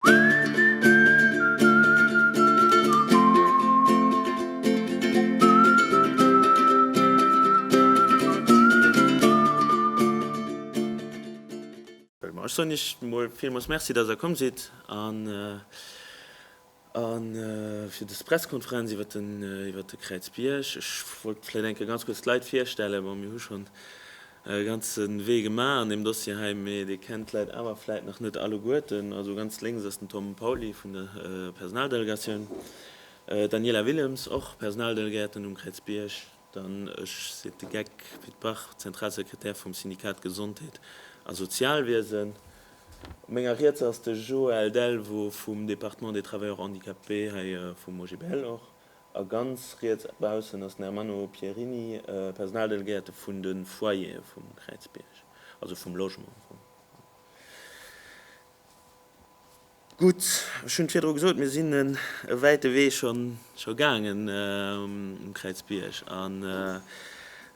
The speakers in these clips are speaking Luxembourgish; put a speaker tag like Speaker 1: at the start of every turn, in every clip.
Speaker 1: Ech soen Iech mol villmools Merci, dass Der komm sidd fir des Pressekonferenz iwwert de Kräizbierg. Ech wollt vläicht eng Kéier ganz kuerz d'Leit virstellen. Bon, mir hu schonn e ganze Wee gemaach an deem Dossier hei, mee Dir kennt d'Leit awer vläit nach net alleguerten. Also ganz lénks ass den Tom Pauly vun der Personaldelegatioun, d'Daniela Willems, och Personaldelegäerten um Kräizbierg, dann ech, seet de Geck, Pit Bach, Zentralsekretär vum Syndikat Gesondheet a Sozialwiesen. Op menger Riets ass de Joël Delvaux vum Département des Travailleurs Handicapés hei vum OGBL och. A ganz riets baussen ass den Ermanno Pierini, Personaldelegéierte vun de Foyere vum Kräizbierg, also vum Logement am Fong. Gutt, ech hunn et virdru gesot, mir sinn e wäite Wee scho gaangen um Kräizbierg. An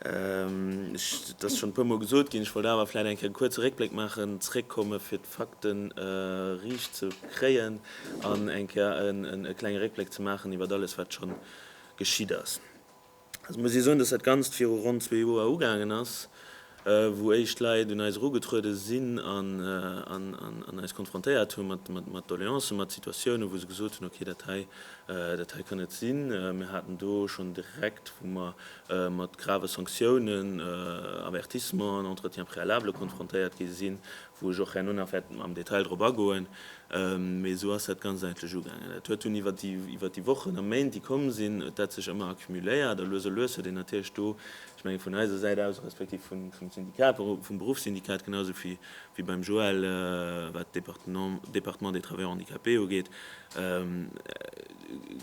Speaker 1: et ass schonn e puer Mol gesot ginn, ech wollt awer vläicht eng Kéier e kuerze Réckbléck maachen, zréckkomme fir Fakten riicht ze kréien an eng Kéier e klenge Réckbléck ze maachen iwwert alles, wat scho geschitt ass. Et muss ee soen, dass dat Ganzt viru ronn zwee Joer ugaangen ass, wou éischt Leit un eis erugetruede sinn an eis konfrontéiert hu mat Doleancen, mat Situatiounen, wou se gesot hunn, Okay, dat hei, dat hei kann net sinn. Mir haten do schonn direkt, wou mer mat grave Sanktiounen, Avertissementen, Entretiens préalables konfrontéiert gi sinn, wou ech och herno nach wäert am Detail drop agoen, mee esou ass dat Ganzt eigentlech ugaangen. Et huet dunn iwwert déi iwwert déi Wochen a Méint, déi komm sinn, huet dat sech ëmmer accumuléiert a lues a lues huet een natierlech do, ech menge vun eiser Säit aus, respektiv vun vum Syndikat, vum Beruffssyndikat genausou wéi wéi beim Joël, wat d'Département Département des Travailleurs handicapés ugeet,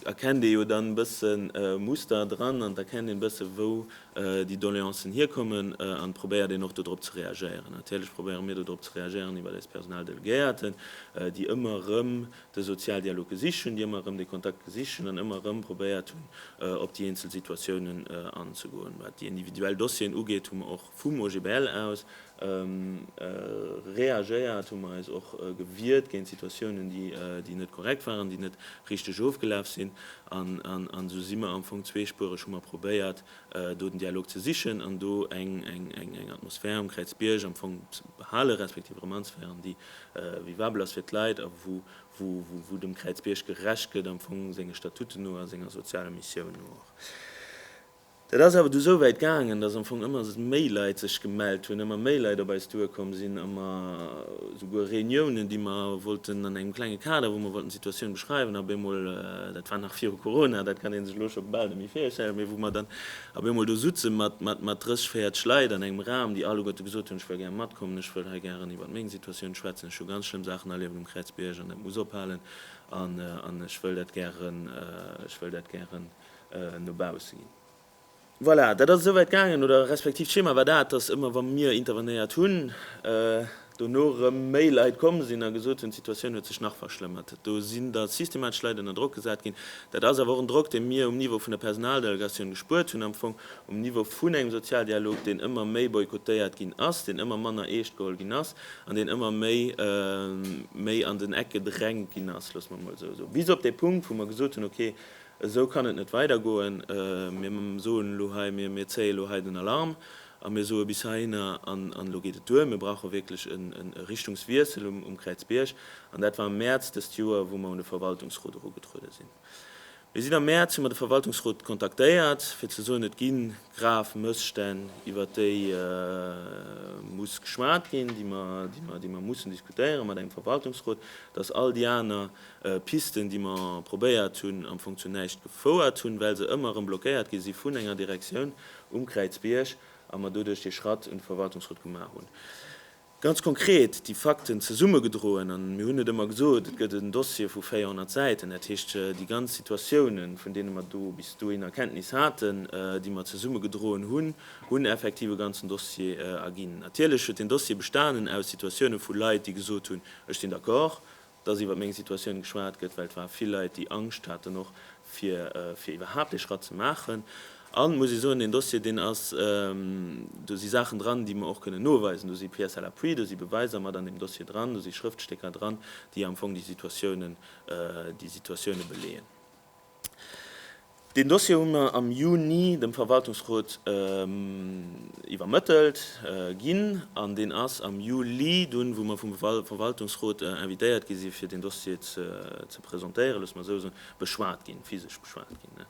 Speaker 1: erkennt ee jo dann e bëssen Muster dran an et erkennt een e bëssen, wou déi Doleancen hierkommen an probéiert een och dodrop ze reagéieren. Natierlech probéiere mir dodrop ze reagéieren iwwert eis Personaldelegéierten, déi ëmmer erëm de Sozialdialog gesicht hunn, déi ëmmer erëm de Kontakt gesicht hunn an ëmmer erëm probéiert hunn op déi eenzel Situatiounen anzegoen. Wat déi individuell Dossieren ugeet, hu mer och vum OGBL aus reagéiert, hu mer eis och gewiert géint Situatiounen, déi net korrekt waren, déi net richteg ofgelaf sinn. An esou si mer am Fong zweespuereg, hu mer probéiert, do den Dialog ze sichen an do eng Atmosphär um Kräizbierg am Fong ze behalen, respektiv erëm anzeféieren, déi vivabel ass fir d'Leit a wou dem Kräizbierg gerecht gëtt, am Fong senge Statuten no a senger sozialer Missioun no och. Dat ass awer du esou wäit gaangen, dass am Fong ëmmer méi Leit sech gemellt hunn, ëmmer méi Leit op eis duerkomm sinn, ëmmer esouguer Reuniounen, déi mer wollten an engem klenge Kader, wou mer wollten d'Situatioun beschreiwen, ab eemol, dat war nach viru Corona, dat kann ee sech elo scho bal net méi virstellen, mee wou mer dann ab eemol do sutze mat 30, 40 Leit an engem Raum, déi alleguerte gesot hunn, ech wëll gär matkommen, ech wëll hei gären iwwert meng Situatioun schwätzen, ech hu ganz schlëmm Saachen erlieft um Kräizbierg an dat muss ophalen an ech wëll dat gären, ech wëll dat gären. no baussen ginn. Voilà, dat ass esouwäit gaangen, oder respektiv d'Schema war dat, dass ëmmer wa mir intervenéiert hunn, dono erëm méi Leit komm sinn a gesot hunn, d'Situatioun huet sech nach verschlëmmert. Do sinn da systematesch Leit ënner Drock gesat ginn. Dat ass awer och en Drock, dee mir um Niveau vun der Personaldelegatioun gespuert hunn, am Fong um Niveau vun engem Sozialdialog, deen ëmmer méi boykottéiert ginn ass, deen ëmmer manner eescht geholl ginn ass an deen ëmmer méi méi an den Eck gedrängt ginn ass, loosse mer emol esou soen, bis op dee Punkt, wou mer gesot hunn, okay, Esou kann et net weidergoen. Mir soen elo hei, mir zéie elo hei den Alarm a mir soe bis heihinner an elo geet et duer. Mir brauche wierklech e Richtungswiessel um Kräizbierg. An dat war am Mäerz dëst Joer, wou mer un de Verwaltungsrot erugetruede sinn. Mir sinn am Mäerz, hu mer de Verwaltungsrot kontaktéiert, fir ze soen, et gi grav Mësstänn, iwwert déi muss geschwat ginn, déi mer mussen diskutéieren mat engem Verwaltungsrot, dass all déi aner Pisten, déi mer probéiert hunn, am Fong zu näischt gefouert hunn, well se ëmmer erëm blockéiert gi si vun enger Direktioun um Kräizbierg a mer doduerch dee Schratt un de Verwaltungsrot gemaach hunn. Ganz konkret déi Fakten zesummegedroen, a mir hunn et ëmmer gesot, et gëtt en Dossier vu 400 Säiten, dat heescht déi ganz Situatiounen, vun deene mer do bis dohinner Kenntnis haten, déi mer zesummegedroen hunn, hunn effektiv e ganzen Dossier erginn. Natierlech huet deen Dossier bestanen aus Situatiounen vu Leit, déi gesot hunn, ech sinn d'accord, dass iwwer meng Situatioun geschwat gëtt, well et ware vill Leit, déi Angscht haten och fir iwwerhaapt dee Schratt ze maachen. An et muss ee soen, deen Dossier, deen ass, do si Saachen dran, déi mer och kënnen noweisen, do si Pièces à l'appui, do si Beweiser mat an deem Dossier dran, do si Schrëftstécker dran, déi am Fong déi Situatioune beleeën. Deen Dossier hu mir am Juni dem Verwaltungsrot iwwermëttelt ginn an deen ass am Juli dunn, wou mir vum Verwaltungsrot invitéiert gi si fir deen Dossier ze presentéieren, loosse mer esou soen, beschwat ginn, physesch beschwat ginn.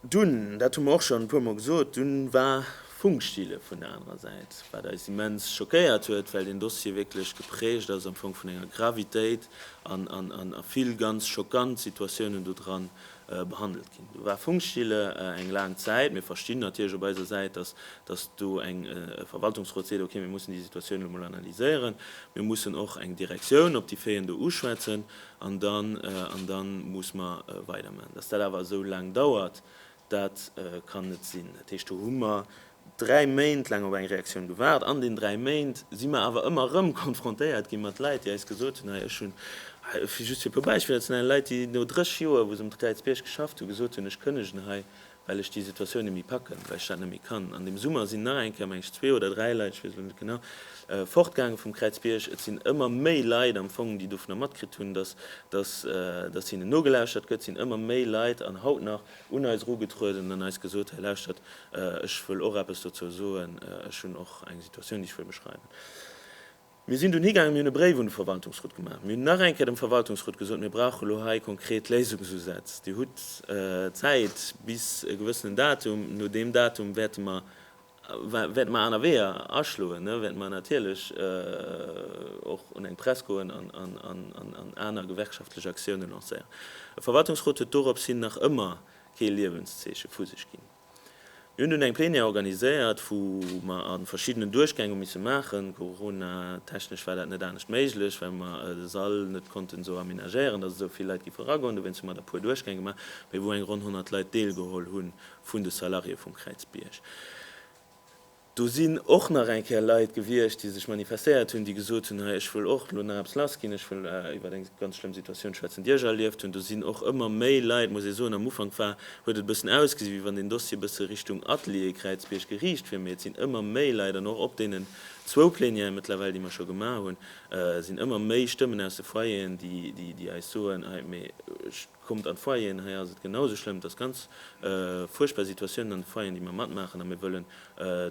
Speaker 1: Dunn, dat hu mer och schonn e puer Mol gesot, dunn war Funkstille vun der anerer Säit, wat eis immens schockéiert huet, well deen Dossier wierklech geprägt ass am Fong vun enger Gravitéit an a vill ganz schockant Situatiounen do dran behandelt ginn. Do war Funkstille eng laang Zäit. Mir verstinn natierlech op eiser Säit, dass dass do eng, e Verwaltungsrot seet, okay, mir mussen déi Situatioun elo mol analyséieren, mir mussen och eng Direktioun op déi Féiën do uschwätzen, An dann, an dann muss mer weider man. Dass dat awer esou laang dauert, dat kann net sinn. Dat heescht, do hu mer dräi Méint laang op eng Reaktioun gewaart. An den dräi Méint si mer awer ëmmer erëm konfrontéiert gi mat Leit, déi eis gesot hunn, hei, ech hunn, just fir e puer Beispiller ze nennen, Leit, déi no 30 Joer, wou se um Kräizbierg geschafft hunn, gesot hunn, ech kënnegen hei, well ech déi Situatioun net méi packen, well ech dat net méi kann. An deem Summer sinn nach eng Kéier, meng ech, zwee oder dräi Leit, ech weess elo net genau, fortgaange vum Kräizbierg. Et sinn ëmmer méi Leit am Fong, déi dovunner matkritt hunn, dass, dass, dass hinnen nogelauschtert gëtt, sinn ëmmer méi Leit an haut nach un eis erugetrueden an eis gesot, Hei lauschtert, ech wëll och eppes dozou soen, ech hunn och eng Situatioun, déi ech wëll beschreiwen. Mir sinn dunn higaangen, mir hunn e Bréif un de Verwaltungsrot gemaach, mir hunn nach eng Kéier dem Verwaltungsrot gesot, mir brauchen elo hei konkret Léisungsusätz. Dir hutt Zäit bis e gewëssenen Datum, no deem Datum wäerte mer, wäerte mer aner Weeër aschloen, wäerte mer natierlech och un eng Press goen an aner gewerkschaftlech Aktiounen lancéieren. E Verwaltungsrot huet doropshin nach ëmmer kee Liewenszeeche vu sech ginn. Mir hunn dunn eng Plenière organiséiert, wou mer a verschiddenen Duerchgäng hu misse maachen. Coronatechnesch war dat net anescht méiglech, well mer de Sall net konnten esou aménagéieren, dass esou vill Leit giff eragoen. Dowéinst hu mer der e puer Duerchgäng gemaach, mee wou eng ronn 100 Leit deelgeholl hu vun de Salariéë vum Kräizbierg. Do sinn och nach eng Kéier Leit gewiescht, déi sech manifestéiert hunn, déi gesot hunn, Ech wëll och elo nach eppes lassginn, ech wëll iwwer eng ganz schlëmm Situatioun schwätzen, déi ech erlieft hunn. Do sinn och ëmmer méi Leit, muss ee soen. Am Ufank war, huet et e bëssen ausgesi wéi wann deen Dossier e bësse Richtung Atelier Kräizbierg geriicht wier, mee et sinn ëmmer méi Leit an och op deenen zwou Plenière mëttlerweil, déi mer scho gemaach hunn, sinn ëmmer méi Stëmmen aus de Foyeren, déi eis soen, Hei, mee ech. Kommt an d'Foyeren, hei ass et genau esou schlëmm, et ass ganz fuerchtbar Situatiounen an de Foyeren, déi mer matmaachen a mir wëllen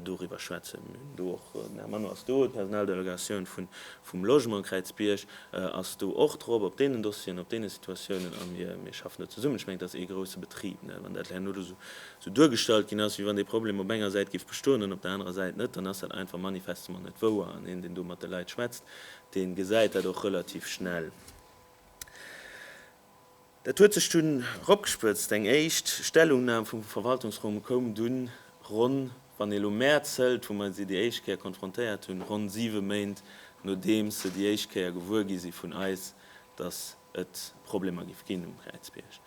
Speaker 1: doriwwer schwätzen. Mir hunn do och, den Här Manno ass do, d'Personaldelegatioun vum Logement Kräizbierg ass do och drop op deenen Dossieren, op deene Situatiounen a mir schaffen do zesummen. Ech mengen, et ass ee grousse Betrib. Wann dat herno do esou duergestallt ginn ass, wéi wann dee Problem op enger Säit géif bestoen an op der anerer Säit net, dann ass dat einfach manifestement net wouer an een, deen do mat de Leit schwätzt, dee gesäit dat och relativ schnell. Dat huet sech dunn ropgespëtzt. Eng éischt Stellungnam vum Verwaltungsrome koum dunn ronn, wann ee elo Mäerz hëlt, wou mer si déi éischt Kéier konfrontéiert hunn, ronn siwe Méint nodeems se déi éischt Kéier gewuer gi si vun eis, datt et Problemer géif ginn um Kräizbierg.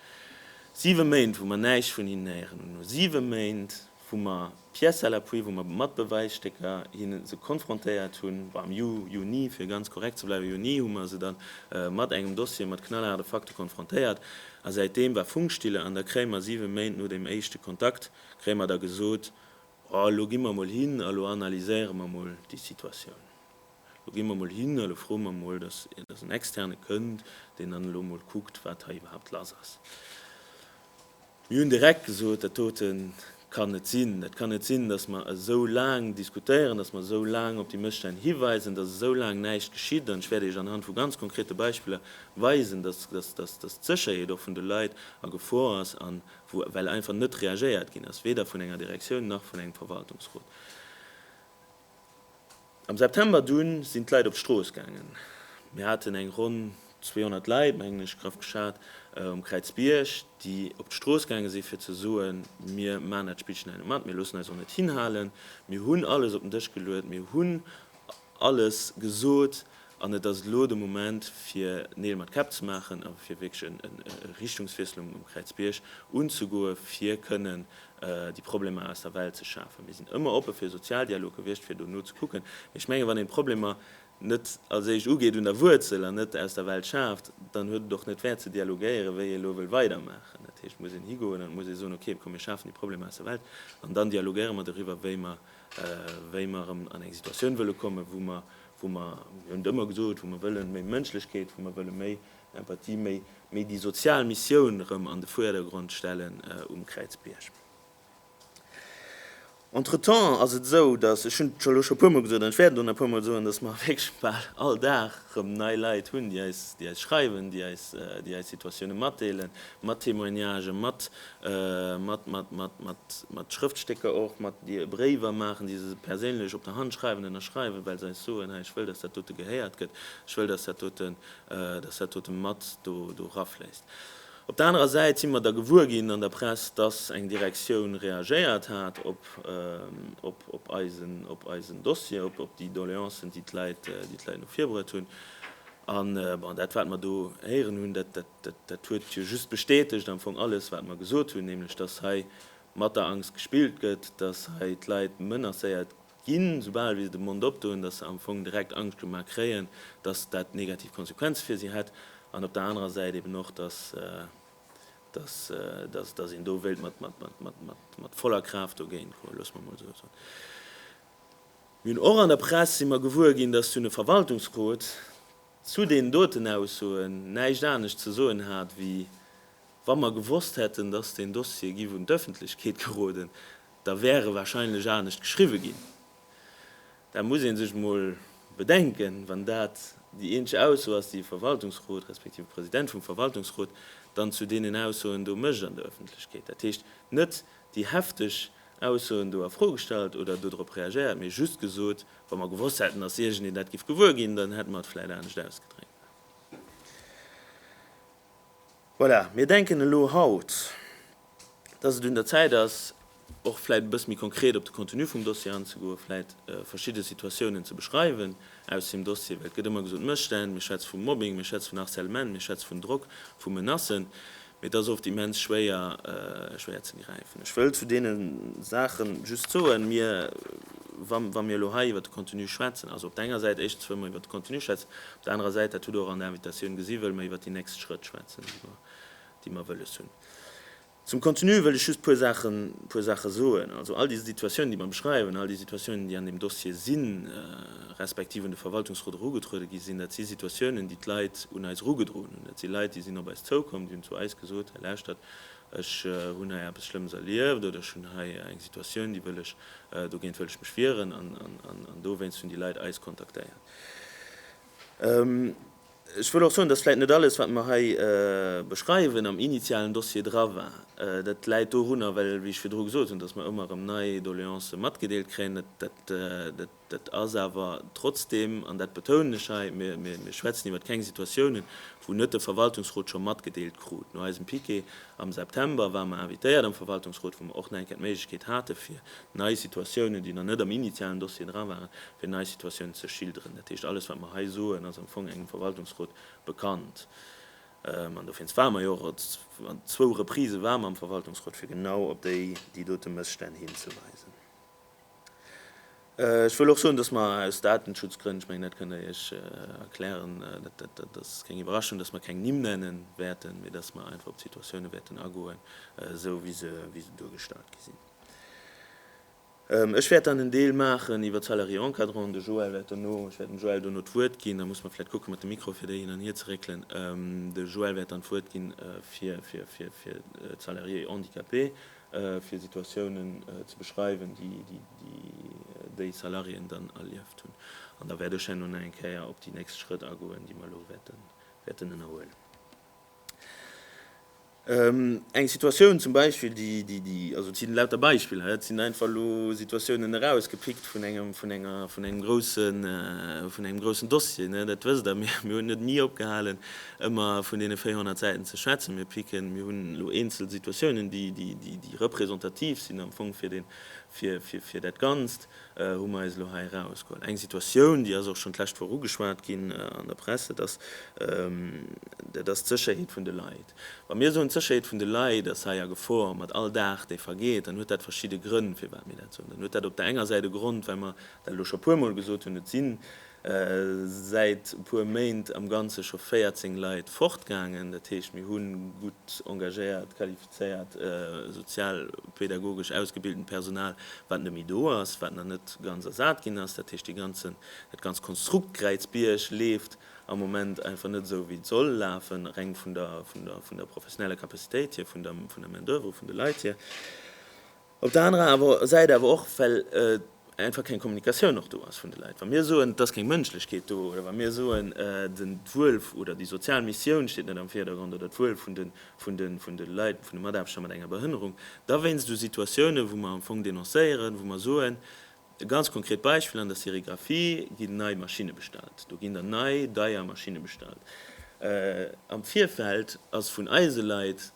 Speaker 1: Siwe Méint, wou mer näischt vun hinnen héieren. An no siwe Méint. wou mer pièces à l'appui, wou mer mat Bewäisstécker hinne se konfrontéiert hunn, am Ju, Juni, fir ganz korrekt ze bleiwen, Juni hu mer se dann mat engem Dossier, mat knallhaarde Fakte konfrontéiert. A säitdeem war Funkstille an da kréie mer siwe Méint no deem éischte Kontakt, kréie mer da gesot, oh, elo gi mer emol hin a lo analyséiere mer emol déi Situatioun. Elo gi mer emol hin a lo froe mer emol, dass en Externe kënnt, deen dann elo emol kuckt, wat hei iwwerhaapt lass ass. Mir hunn direkt gesot, dat dote kann net sinn. Et kann net sinn, datt mer esou laang diskutéieren, datt mer esou laang op déi Mësstänn hiweisen, datt esou laang näischt geschitt. An ech wäert Iech anhand vu ganz konkrete Beispiller weisen, datt d'Sécherheet och vun de Leit a Gefor ass, well einfach net reagéiert ginn ass, weder vun enger Direktioun nach vun engem Verwaltungsrot. Am September dunn sinn d'Leit op d'Strooss gaangen. Mir haten eng ronn 200 Leit, mengen ech, graff geschat, um Kräizbierg, déi op d'Strooss gaange si fir ze soen, mir maachen dat Spillchen hei net mat, mir loossen eis och net hinhalen, mir hunn alles op den Dësch geluet, mir hunn alles gesot, An et ass elo de Moment, fir Neel mat Käpp ze maachen a fir wierklech e Richtungswiessel um Kräizbierg unzegoe fir kënnen déi Problemer aus der Welt ze schafen. Mir sinn ëmmer oppe fir e Sozialdialog gewiescht, fir dono ze kucken. Mee ech mengen, wann een d'Problemer net als éischt ugeet un der Wuerzel an net aus der Welt schaaft, dann huet et och net Wäert ze dialogéieren, wéi ee elo wëll weidermaachen. Dat heescht, et muss een higoen an et muss ee soen, okay, komm mir schafen déi Problemer aus der Welt an dann dialogéiere mer doriwwer, wéi mer erëm an eng Situatioun wëlle kommen, wou mer wou mer, mir hunn et ëmmer gesot, wou mer wëllen méi Mënschlechkeet, wou mer wëlle méi Empathie, méi, méi déi sozial Missioun erëm an de Vierdergrond stellen um Kräizbierg. Entretemps ass et esou, dass, ech hunn et elo scho e puermol gesot an ech wäerten et och nach e puermol soen, dass mer wierklech bal all Dag erëm nei Leit hunn, déi eis, déi eis schreiwen, déi eis, déi eis Situatiounen matdeelen, mat Témoignagen, mat mat Schrëftstécker och, mat Bréiwer maachen, déi se perséinlech op der Hand schreiwen, ënnerschreiwen, well se eis soen, hei, ech wëll, dass dat dote gehéiert gëtt, ech wëll, dass dat dote mat do erafléisst. Op der anerer Säit si mer da gewuer ginn an der Press, dass eng Direktioun reagéiert hat op eisen Dossier, op déi Doleancen, déi d'Leit no vir bruet hunn. An dat, wat mer do héieren hunn, dat Dat huet jo just bestätegt am Fong alles, wat mer gesot hunn, nämlech dass hei mat der Angst gespillt gëtt, dass hei d'Leit menacéiert ginn, soubal wéi se de Mond opdoen, dass se am Fong direkt Angscht gemaach kréien, dass dat negativ Konsequenze fir si hätt an op der anerer Säit eben och, dass een do wéilt mat voller Kraaft dogéint goen, loosse mer mol esou soen. Mir hunn och an der Press si mer gewuer ginn, dass dunn e Verwaltungsrot, zu deenen doten Aussoen näischt anescht ze soen hat, wéi, Wa mer gewosst hätten, dass deen Dossier giff un d'Öffentlechkeet geroden, da wär e wahrscheinlech anescht geschriwwe ginn. Dat muss ee sech emol bedenken, wann dat déi eenzeg Ausso ass, déi e Verwaltungsrot respektiv e President vum Verwaltungsrot dann zu deenen Aussoen do mécht an der Öffentlechkeet. Dat heescht, net déi hefteg Aussoen do a Fro gestallt oder dodrop reagéiert, mee just gesot, Wa mer gewosst hätten, dass iergendeen dat giff gewuer ginn, dann hätte mer et vläit anescht ausgedréckt. Voilà, mir denken elo haut, dass et un der Zäit ass, och vläit e bësse méi konkret op de Contenu vum Dossier anzegoen, vläit verschidde Situatiounen ze beschreiwen aus deem Dossier. Well et gëtt ëmmer gesot, Mësstänn, mir schwätze vu Mobbing, mir schwätze vun Harcèlement, mir schwätze vun Drock, vu Menacen. Mee et ass oft immens schwéier, schwéier ze gräifen. Ech wëll zu deene Saache just soen, mir, wa mir elo hei iwwert de Contenu schwätzen, also op der enger Säit, éischtens wëlle mer iwwert de Contenu schwätzen, op der anerer Säit, dat hutt Der och an der Invitatioun gesi, wëlle mer iwwert déi nächst Schrëtt schwätzen, déi mer wëlles hunn. Zum Contenu wëll ech just e puer Saache, puer Saache soen. Also all déi Situatiounen, déi mer beschreiwen, all déi Situatiounen, déi an deem Dossier sinn, respektiv un de Verwaltungsrot erugetruede gi sinn, dat si Situatiounen, déi d'Leit un eis erugedroen Et si Leit, déi sinn op eis zoukomm, déi hunn zu eis gesot, Hei lauschtert, ech hunn hei eppes Schlëmmes erlieft oder ech hunn hei eng Situatioun, déi wëll ech, dogéint wëll ech mech wieren. An dowéinst hunn déi Leit eis kontaktéiert. Ech wëll och soen, dass vläicht net alles, wat mer hei beschreiwen, am initialen Dossier dra war. Dat läit dorunner, well, wéi ech virdru gesot hunn, dass mer ëmmer erëm nei Doleancë matgedeelt kréien. Dat Dat ass awer trotzdeem, an dat betounen ech hei, mir schwätzen iwwert keng Situatiounen, wou net de Verwaltungsrot scho matgedeelt krut. No eisem Piquet am September ware mer invitéiert am Verwaltungsrot, wou mer och nach eng Kéier d'Méiglechkeet hate fir nei Situatiounen, déi nach net am initialen Dossier dra waren, fir nei Situatiounen ze schilderen. Dat heescht, alles wat mer hei soen, ass am Fong engem Verwaltungsrot bekannt. An dowéinst ware mer jo och, an zwou Reprisen ware mer am Verwaltungsrot, fir genau op déi dote Mësstänn hinzeweisen. Ech wëll och soen, dass mer aus Datenschutzgrënn, ech mengen, dat kënnt Der Iech erklären, dat ass keng Iwwerraschung, dass mer keng Nimm nenne wäerten, mee dass mer einfach op d'Situatioune wäerten agoen, esou wéi se duergestallt gi sinn. Ech wäert dann en Deel maachen iwwert d'Salariés encadrants. De Joël wäert dono, ech wäert dem Joël dono d'Wuert ginn, da muss mer vläicht kucken mat de Mikroe fir déi hin an hier ze réckelen, de Joël wäert dann d'Wuert ginn fir d'Salariés handicapés. fir Situatiounen ze beschreiwen, déi déi Salariéen dann erlieft hunn. An da wäert ech herno nach eng Kéier op déi nächst Schrëtt agoen, déi mer elo wäerten ënnerhuelen. Eng Situatioun zum Beispill, déi, also et si lauter Beispiller, et sinn einfach elo Situatiounen erausgepickt vun engem groussen Dossier, dat wësst Der, mir hunn net ni opgehalen Ëmmer vun deene 400 Säiten ze schwätzen. Mir picken, mir hunn elo eenzel Situatiounen, déi representativ sinn am Fong fir dat Ganzt, hu mer eis elo hei erausgeholl. Eng Situatioun, déi ass och schonn d'lescht Woch ugeschwat ginn an der Press, dat ass, dat ass d'Sécherheet vun de Leit. Wa mir soen, d'Sécherheet vun de Leit ass hei a Gefor mat all Dag, dee vergeet, dann huet dat verschidde Grënn, firwat mir dat soen. Dann huet dat op der enger Säit e Grond, well mer dat elo scho puermol gesot hunn, et sinn Säit e puer Méint am Ganze scho 14 Leit fortgaangen. Dat heescht, mir hu gutt engagéiert, qualifizéiert, sozialpedagogesch ausgebiltent Personal, wat net méi do ass, wat nach net ganz ersat ginn ass. Dat heescht, dat ganzt Konstrukt Kräizbierg leeft am Moment einfach net esou, wéi et soll lafen, reng vun der professioneller Capacitéit hier, vun der Main-d'oeuvre, vun de Leit hier. Op der anerer awer Säit awer och, well einfach keng Kommunikatioun och do ass vun de Leit. Wa mir soen, et ass keng Mënschlechkeet do oder wa mir soen, d'Wuel oder déi sozial Missioun steet net am Virdergrond oder d'Wuel vun de vun de vun de Leit, vun de Mataarbechter mat enger Behënnerung, da wéinst u Situatiounen, wou mer am Fong denoncéieren, wou mer soen, e ganz konkret Beispill, an der Sérigraphie ginn nei Maschinne bestallt, do ginn dann nei, deier Maschinne bestallt. Am Virfeld ass vun eise Leit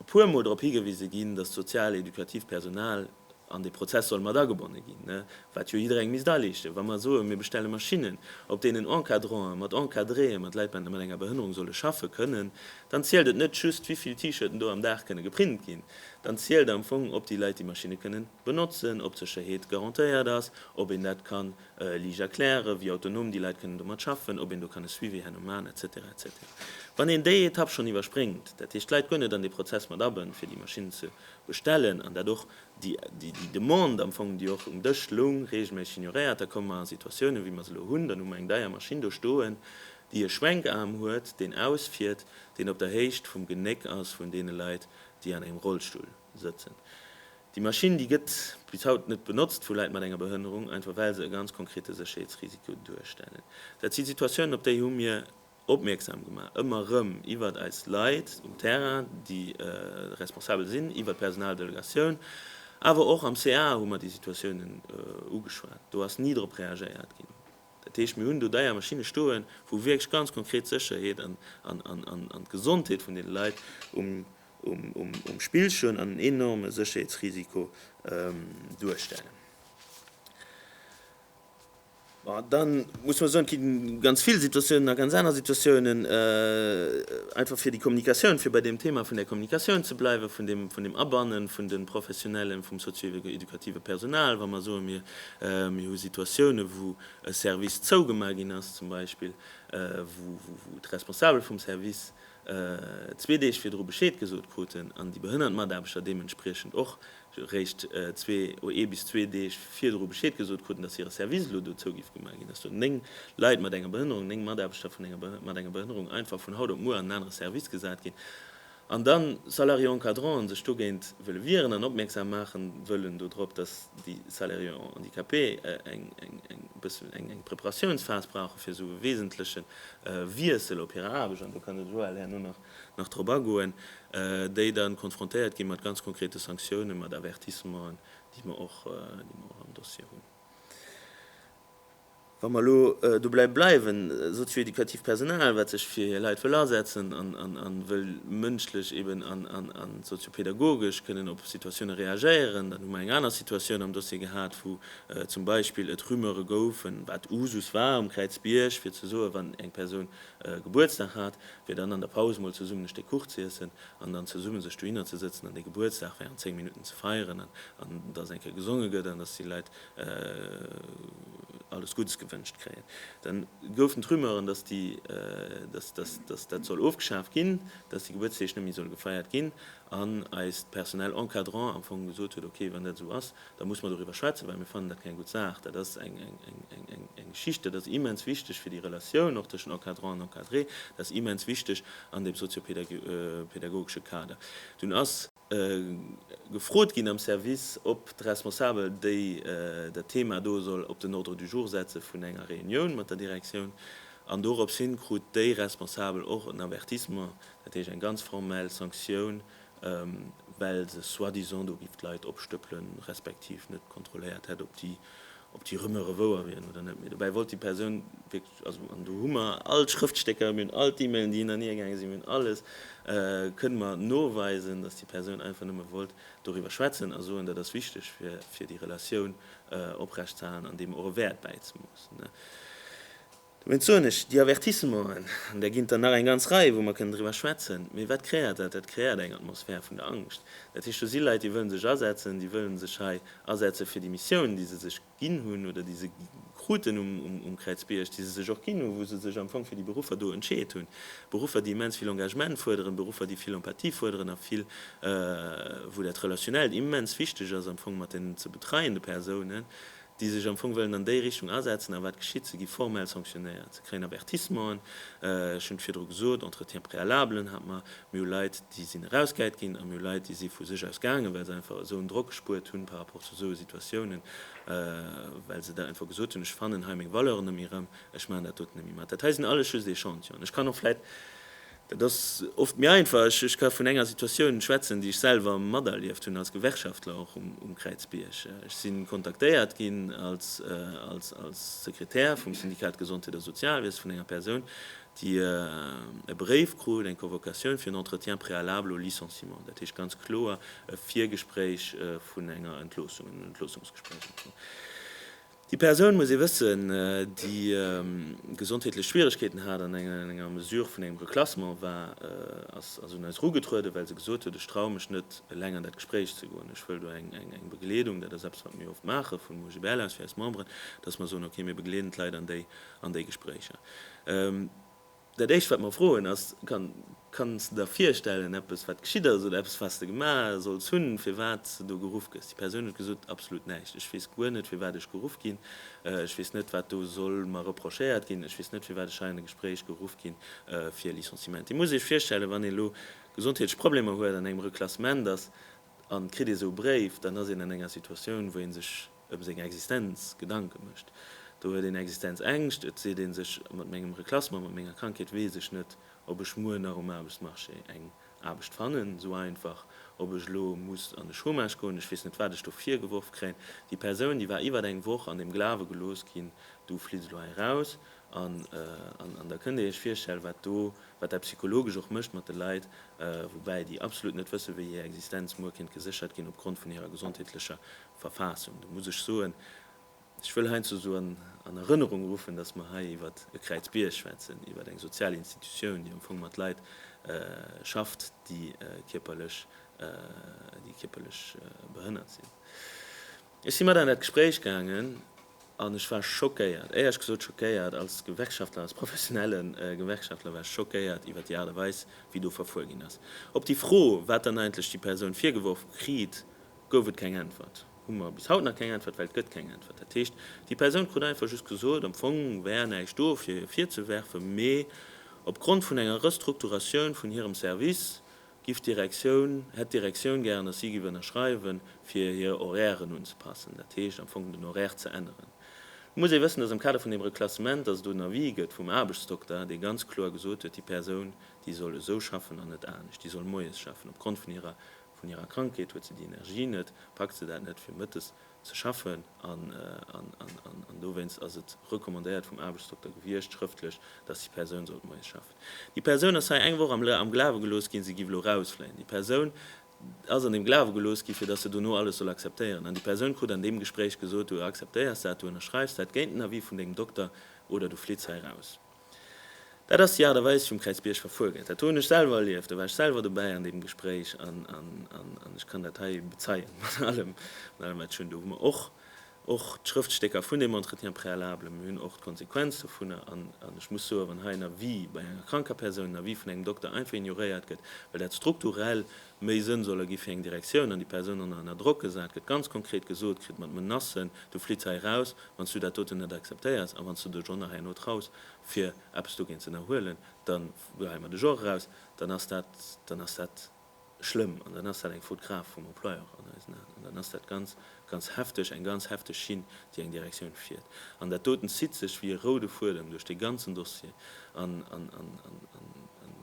Speaker 1: e puer Mol drop higewise ginn, dass d'sozial éducativ Personal an dee Prozess soll mat agebonne ginn, wat jo jiddereng misst aleeschten. Wa mer soen, mir bestelle Maschinnen, op deenen Encadranten mat Encadréen, mat Leit mat enger Behënnerung solle schaffen kënnen, dann zielt et net just, wéi vill T-Shirten do am Dag kënne geprint ginn, dann zielt am Fong, ob déi Leit déi Maschinne kënnen benotzen, ob d'Sécherheet garantéiert ass, ob een dat kann. Lige erklären, wéi autonom déi Leit kënnen domat schaffen, ob een do kann e Suivi herno maachen, etc. Etc. Wann een déi Etapp schonn iwwerspréngt, dat heescht d'Leit guer net an dee Prozess mat abënnt, fir déi Maschinn ze bestellen, an dat och déi Demande am Fong, déi och um Dësch loung, reegelméisseg ignoréiert, da komme mer a Situatiounen, wéi mer se elo hunn. Dann hu mer eng deier Maschinn do stoen, déi e Schwenkaarm huet, deen ausfiert, deen op der Héicht vum Genéck ass vun deene Leit, déi an engem Rollstull. sëtzen. Déi Maschinn, déi gëtt bis haut net benotzt vu Leit mat enger Behënnerung, einfach well se e ganz konkrete Sécherheetsrisiko duerstellen. Dat si Situatiounen, op déi hu mir opmierksam gemaach, ëmmer erëm iwwert eis Leit um Terrain, déi responsabel sinn, iwwert d'Personaldelegatioun, awer och am ca hu mer déi Situatiounen ugeschwat. Do ass ni drop reagéiert ginn. Dat heescht, mir hunn do deier Maschinne stoen, wou wierklech ganz konkret d'Sécherheet an d'Gesondheet vun deene Leit um. um Spill stoen an en enorme Sécherheetsrisiko duerstellen. Da muss mer soen, et gi ganz vill Situatiounen a ganz aner Situatiounen, einfach fir déi Kommunikatioun, fir bei deem Thema vun der Kommunikatioun ze bleiwen, vun dem Abanne vun de Professionellen, vum sozio-educative Personal, wa mer soen, mir hu Situatiounen, wou e Service zougemaach ginn ass zum Beispill, wou d'Responsabel vum Service, zwee Deeg virdru Bescheed gesot kruten an déi behënnert Mataarbechter deementspriechend och réischt zwee oder ee bis zwee Deeg virdru Bescheed gesot kruten, datt hire Service elo do zougif gemaach ginn ass, do néng Leit mat enger Behënnerung, néng Mataarbechter vun enger mat enger Behënnerung einfach vun haut op muer an en anere Service gesat ginn an da Salariés encadrants sech dogéint wëlle wieren an opmierksam maache wëllen dodrop, datt déi Salariés handicapés eng, eng, eng bëssen eng, eng Preparatiounsphas brauche fir esou e wesentlechen. Wiessel op hir Aarbecht, an do kann de Joël herno nach drop agoen, déi dann konfrontéiert gi mat ganz konkrete Sanktiounen, mat Avertissementen, déi mer och am Dossier hunn. Wa mer elo dobäi bleiwen, sozioeducativ Personal, wat sech fir hir Leit wëll asetzen a wëll mënschlech eben a soziopädagogesch kënnen op Situatiounen reagéieren, dann hu mer eng aner Situatioun am Dossier gehat, wou zum Beispill et Rumeure goufen, wat Usus war um Kräizbierg, fir ze soen, wann eng Persoun Gebuertsdag hat, fir dann an der Paus mol zesummen e Stéck Kuch z'iessen an dann zesummen sech dohinner ze sëtzen an dee Gebuertsdag während 10 Minutten ze feieren an an dass eng Kéier gesonge gëtt an dass déi Leit alles Guddes gewënscht kréien. Da goufen d'Rumeuren, dass déi, dass, dass, dass dat soll ofgeschaaft ginn, dass déi Gebuertsdeeg net méi solle gefeiert ginn. an eist Personnel encadrant am Fong gesot huet, ok, wann dat esou ass, da musse mer doriwwer schwätzen, well mir fannen dat keng gutt Saach. Dat ass eng Geschicht, dat ass immens wichteg fir déi Relatioun och tëschent Encadrant an Encadré, dat ass immens wichteg an deem soziopädagogesche Kader. Dunn ass gefrot ginn am Service, ob d'Responsabel déi dat Thema do soll op den Ordre du jour setze vun enger Reunioun mat der Direktioun, an dorops hi krut déi Responsabel och en Avertissement, Dat heescht eng ganz formell Sanktioun, well se soi-disant do giff d'Leit opstëppelen, respektiv net kontrolléiert hätt, ob déi ob déi Rumeure wouer wieren oder net. Mee dobäi wollt déi Persoun wierklech, also an do hu mer all d'Schrëftstécker, mir hunn all d'E-Mailen, déi hinner hir gaange sinn, mir hunn alles, kënne mer noweisen, datt déi Persoun einfach nëmme wollt doriwwer schwätzen a soen, dat ass wichteg fir fir déi Relatioun oprecht ze halen an deem och e Wäert bäizemoossen. Dowéinst soen ech, déi Avertissementen, an där ginn et der nach eng ganz Rei, wou mer kënnen driwwer schwätzen, mee wat kreéiert dat? Dat kreéiert eng Atmosphär vun der Angscht. Dat heescht, do si Leit, déi wëlle sech asetzen, déi wëlle sech hei asetzen fir déi Missioun, déi se sech ginn hunn oder déi se kruten um Kräizbierg, déi se sech och ginn hunn, wou se sech am Fong fir déi Beruffer do entscheet hunn. Beruffer, déi immens vill Engagement fuerderen, Beruffer, déi vill Empathie fuerderen a vill, wou dat Relationnellt immens wichteg ass am Fong mat deenen ze betreiende Persounen. déi sech am Fong wëllen an déi Richtung asetzen. A wat geschitt? Se gi formell sanctionéiert, se kréien Avertissementen. Ech hunn et virdru gesot, Entretiens préalables hat mer, mir hu Leit, déi sinn erausgäit ginn a mir hu Leit, déi si vu sech aus gaangen, well se einfach esou en Drock gespuert hunn par rapport zu esou Situatiounen, well se dat einfach gesot hunn, ech fannen hei meng Valeuren net méi erëm, ech maachen dat doten net méi mat. Dat hei sinn alles just Echantion. Ech kann och vläicht Dat ass oft méi einfach. Ech ka vun enger Situatioun schwätzen, déi ech selwer materlieft hunn als Gewerkschaftler och um Kräizbierg. Ech si kontaktéiert ginn als Sekretär vum Syndikat Gesondheet a Sozialwiese vun enger Persoun, déi e Bréif krut, eng Convocatioun fir en Entretien préalable au licenciement, dat heescht ganz kloer e Virgespréich vun enger Entloossung, en Entloossungsgespréich am Fong. Déi Persoun, muss ee wëssen, déi gesondheetlech Schwieregkeeten hat an enger Mesure vun engem Reklassement war, ass un eis erugetrueden, well se gesot huet, ech traue mech net eleng an dat Gespréich ze goen, ech wëll do eng Begleedung. Dat ass eppes, wat mir oft maache vum OGBL aus fir eis Memberen, dass mer soen, okay, mir begleeden d'Leit an déi Gespréicher. Dat éischt wat mer froen ass, Kanns de der virstellen eppes wat geschitt ass oder eppes wats de gemaach solls hunn firwats de do geruff gëss? Déi Persoun huet gesot, Absolut näischt, ech weess guer net firwat ech geruff ginn, ech weess net wat do soll mer reprochéiert ginn, ech weess net firwat ech hei an e Gespréich geruff gi fir Licenciement. Dir musst iech virstellen, wann een elo gesondheetlech Problemer huet, an engem Reklassement ass an kritt ee sou e Bréif, dann ass een an enger Situatioun wou ee sech ëm seng Existenz Gedanke mécht. Do huet een Existenzängscht, et seet ee sech, mat mengem Reklassement, mat menger Krankheet weess ech net, ob ech muer nach um Aarbechtsmarché eng Aarbecht fannen, esou einfach, ob ech elo muss an de Chômage goen, ech weess net, wat ech do virgeworf kréien. Déi Persoun, déi war iwwert eng Woch an dem Glawe gelooss ginn, du flitts elo hei eraus. An da kënnt Dir Iech virstellen, wat do, wat dat psychologesch och mécht mat de Leit, woubäi déi absolut net wëssen, wéi hir Existenz muer kéint geséchert ginn opgrond vun hirer gesondheetlecher Verfassung. Do muss ech soen, ech wëll heiansdo esou an Erënnerung ruffen, dass mer hei iwwert e Kräizbierg schwätzen, iwwert eng sozial Institutioun, déi am Fong mat Leit schafft, déi kierperlech behënnert sinn. Ech si mat an dat Gespréich gaangen. An ech war schockéiert, éierch gesot schockéiert, als Gewerkschaftler, als professionelle Gewerkschaftler war ech schockéiert iwwer déi Aart a Weis, wéi do verfuer ginn ass. Op déi Fro, wat dann eigentlech déi Persoun virgeworf kritt, gouf et keng Äntwert. Hu mer bis haut nach keng Äntwert, well et gëtt keng Äntwert. Dat heescht, déi Persoun krut einfach just gesot, am Fong wär näischt do fir hir virzewerfen, mee opgrond vun enger Restrukturatioun vun hirem Service Giff d'Direktioun, hätt d'Direktioun gären, dass si giff ënnerschreiwen, fir hir Horairen unzepassen, dat heescht am Fong den Horaire ze änneren. Nun muss ee wëssen, dass am Kader vun deem Reklassement, dass et do en Avis gëtt vum Aarbechtsdokter, dee ganz kloer gesot huet, déi Persoun, déi soll esou schaffen an net anescht, déi soll moies schaffen. Opgrond vun hirer, vun hirer Krankheet huet se déi Energie net, packt se dat net, fir mëttes ze schaffen an dowéinst ass et recommandéiert vum Aarbechtsdokter gewiescht, schrëftlech, dass déi Persoun sollt moies schaffen. Déi Persoun ass hei eng Woch am Glawe gelooss ginn, se giff elo rausfléien. Déi Persoun ass an dem Glawe gelooss ginn, fir dass se dono alles soll akzeptéieren. An déi Persoun krut an deem Gespréich gesot, du akzeptéiers dat, du ënnerschreiws dat géint den Avis vun dengem Dokter oder du flitts hei raus. Dat ass déi Aart a Weis, wéi um Kräizbierg verfuer gëtt. Dat hunn ech selwer erlieft, do war ech selwer dobäi an deem Gespréich an ech kann dat hei bezeien, mat allem wat ech hunn. Do hu mer och och d'Schrëftstécker vun deem Entretien préalable, mir hunn och d'Konsequenz dovunner an ech muss soen, wann hei en Avis bei enger kranker Persoun, en Avis vun engem Dokter einfach ignoréiert gëtt, well dat strukturell méi Sënn soll ergi fir eng Direktioun an déi Persoun dann nach ënner Drock gesat gëtt, ganz konkret gesot kritt mat Menacen, du flitts hei raus, Wann s du dat doten net akzeptéiers a wann s du dech och nach herno traus, fir eppes dogéint z'ënnerhuelen, dann geheien mer dech och eraus. Dann ass dat, dann ass dat schlëmm an dann ass dat eng Faute grave vum Employeur an eisen Aen an dann ass dat ganz, ganz hefteg, eng ganz hefteg Schinn, déi eng Direktioun fiert. An dat doten zitt sech wéi e roude Fuedem duerch dee ganzen Dossier an, an, an, an, an, an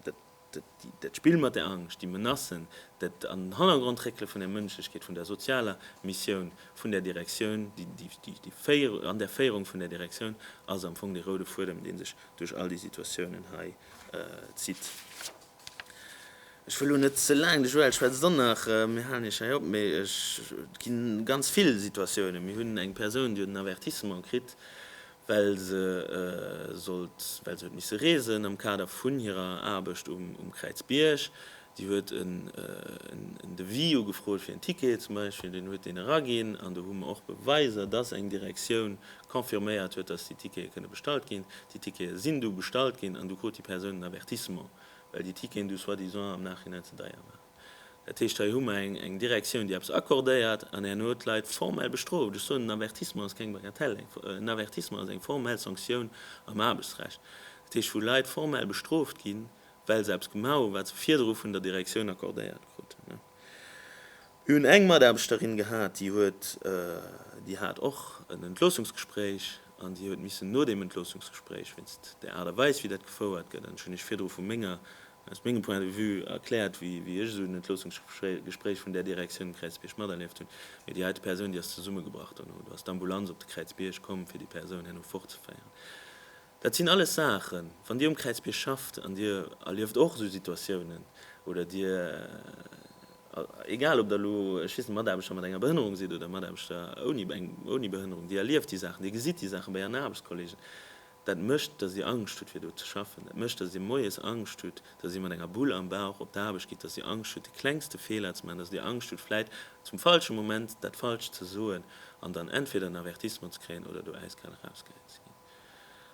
Speaker 1: dat. Dat Spill mat der Angscht, déi Menacen, dat an den Hannergrond réckele vun der Mënschlechkeet, vun der sozialer Missioun vun der Direktioun, an der Féierung vun der Direktioun, ass am Fong dee roude Fuedem, dee sech duerch all déi Situatiounen hei zitt. Ech wëll elo net ze laang, de Joël schwätzt dann nach, mir halen Iech hei op, mä et gi ganz vill Situatiounen. Mir hunn eng Persoun, déi huet en Avertissement kritt, well se sollt well se huet misse reesen am Kader vun hirer Aarbecht um Kräizbierg. Déi huet en Devis ugefrot fir en Ticket zum Beispill, deen huet deen eraginn an do hu mer och Beweiser, dass eng Direktioun confirméiert huet, dass déi Tickete kënne bestallt ginn. Déi Tickete sinn du bestallt ginn an du krut déi Persoun en Avertissement, well déi Ticketen du soi-disant am Nachhinein ze deier waren. Dat heescht, hei hu mer eng Direktioun, déi eppes accordéiert, an herno d'Leit formell bestrooft. Ech soen, en Avertissement ass keng Bagatelle. En Avertissement ass eng formell Sanktioun am Aarbechtsrecht. Dat heescht, wou Leit formell bestrooft ginn, well se eppes gemaach hunn, wat se virdru vun der Direktioun accordéiert kruten. Mir hunn eng Mataarbechterin gehat, déi huet, déi hat och en Entloossungsgespréich an déi huet missen no deem Entloossungsgespréich, wéinst der Aart a Weis, wéi dat gefouert gëtt, an ech hunn Iech virdru vu menger Aus mengem Point de vue erkläert, wéi ech esou en Entloossungsgespréich vun där Direktioun um Kräizbierg materlieft hunn. Mee déi heite Persoun, déi ass zesummegebrach. Dono do ass d'Ambulanz op de Kräizbierg komm, fir déi Persoun herno fortzeféieren. Dat sinn alles Saachen, wann Dir um Kräizbierg schafft an Dir erlieft och esou Situatiounen oder Dir, egal ob Der elo, ech weess net, Mataarbechter mat enger Behënnerung sidd oder Mataarbechter ouni Behënnerung, Dir erlieft déi Saachen, Dir gesitt déi Saachen bei Ären Aarbechtskolleegen, Dat mécht, datt si Angscht hutt, fir do ze schaffen. Dat mécht, datt Dir moies Angscht hutt, datt Dir mat enger Bull am Bauch op d'Aarbecht gitt, datt Dir Angscht hutt, de klengste Feeler ze maachen, datt Dir Angscht hutt, vläit zum falsche Moment dat Falscht ze soen an dann entweder en Avertissement ze kréien oder do äiskal erausgehäit ze ginn.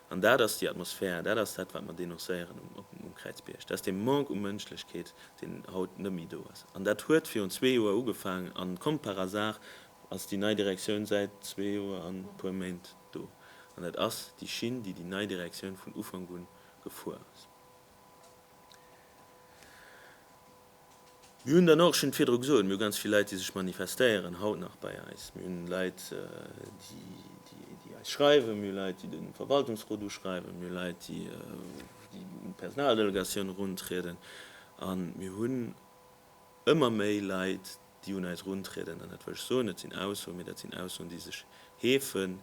Speaker 1: An dat ass déi Atmosphär, dat ass dat, wat mer denoncéieren um Kräizbierg. Dat ass dee Manque u Mënschlechkeet, deen haut net méi do ass. An dat huet virun zwee Joer ugefaangen, an comme par hasard ass déi nei Direktioun säit zwee Joer an e puer Méint. do, an dat ass déi Schinn, déi déi nei Direktioun vun Ufank un gefuer ass. Mir hunn dann och, ech hunn et virdru gesot, mir hu ganz vill Leit, déi sech manifestéieren, haut nach bei eis, mir hunn Leit, déi eis schreiwen, mir hu Leit, déi de Verwaltungsrot uschreiwen, mir hu Leit, déi un d'Personaldelegatioun eruntrieden, a mir hunn, ëmmer méi Leit, déi un eis eruntrieden, an dat wëll ech soen, dat sinn Aussoen, mee dat sinn Aussoen, déi sech heefen,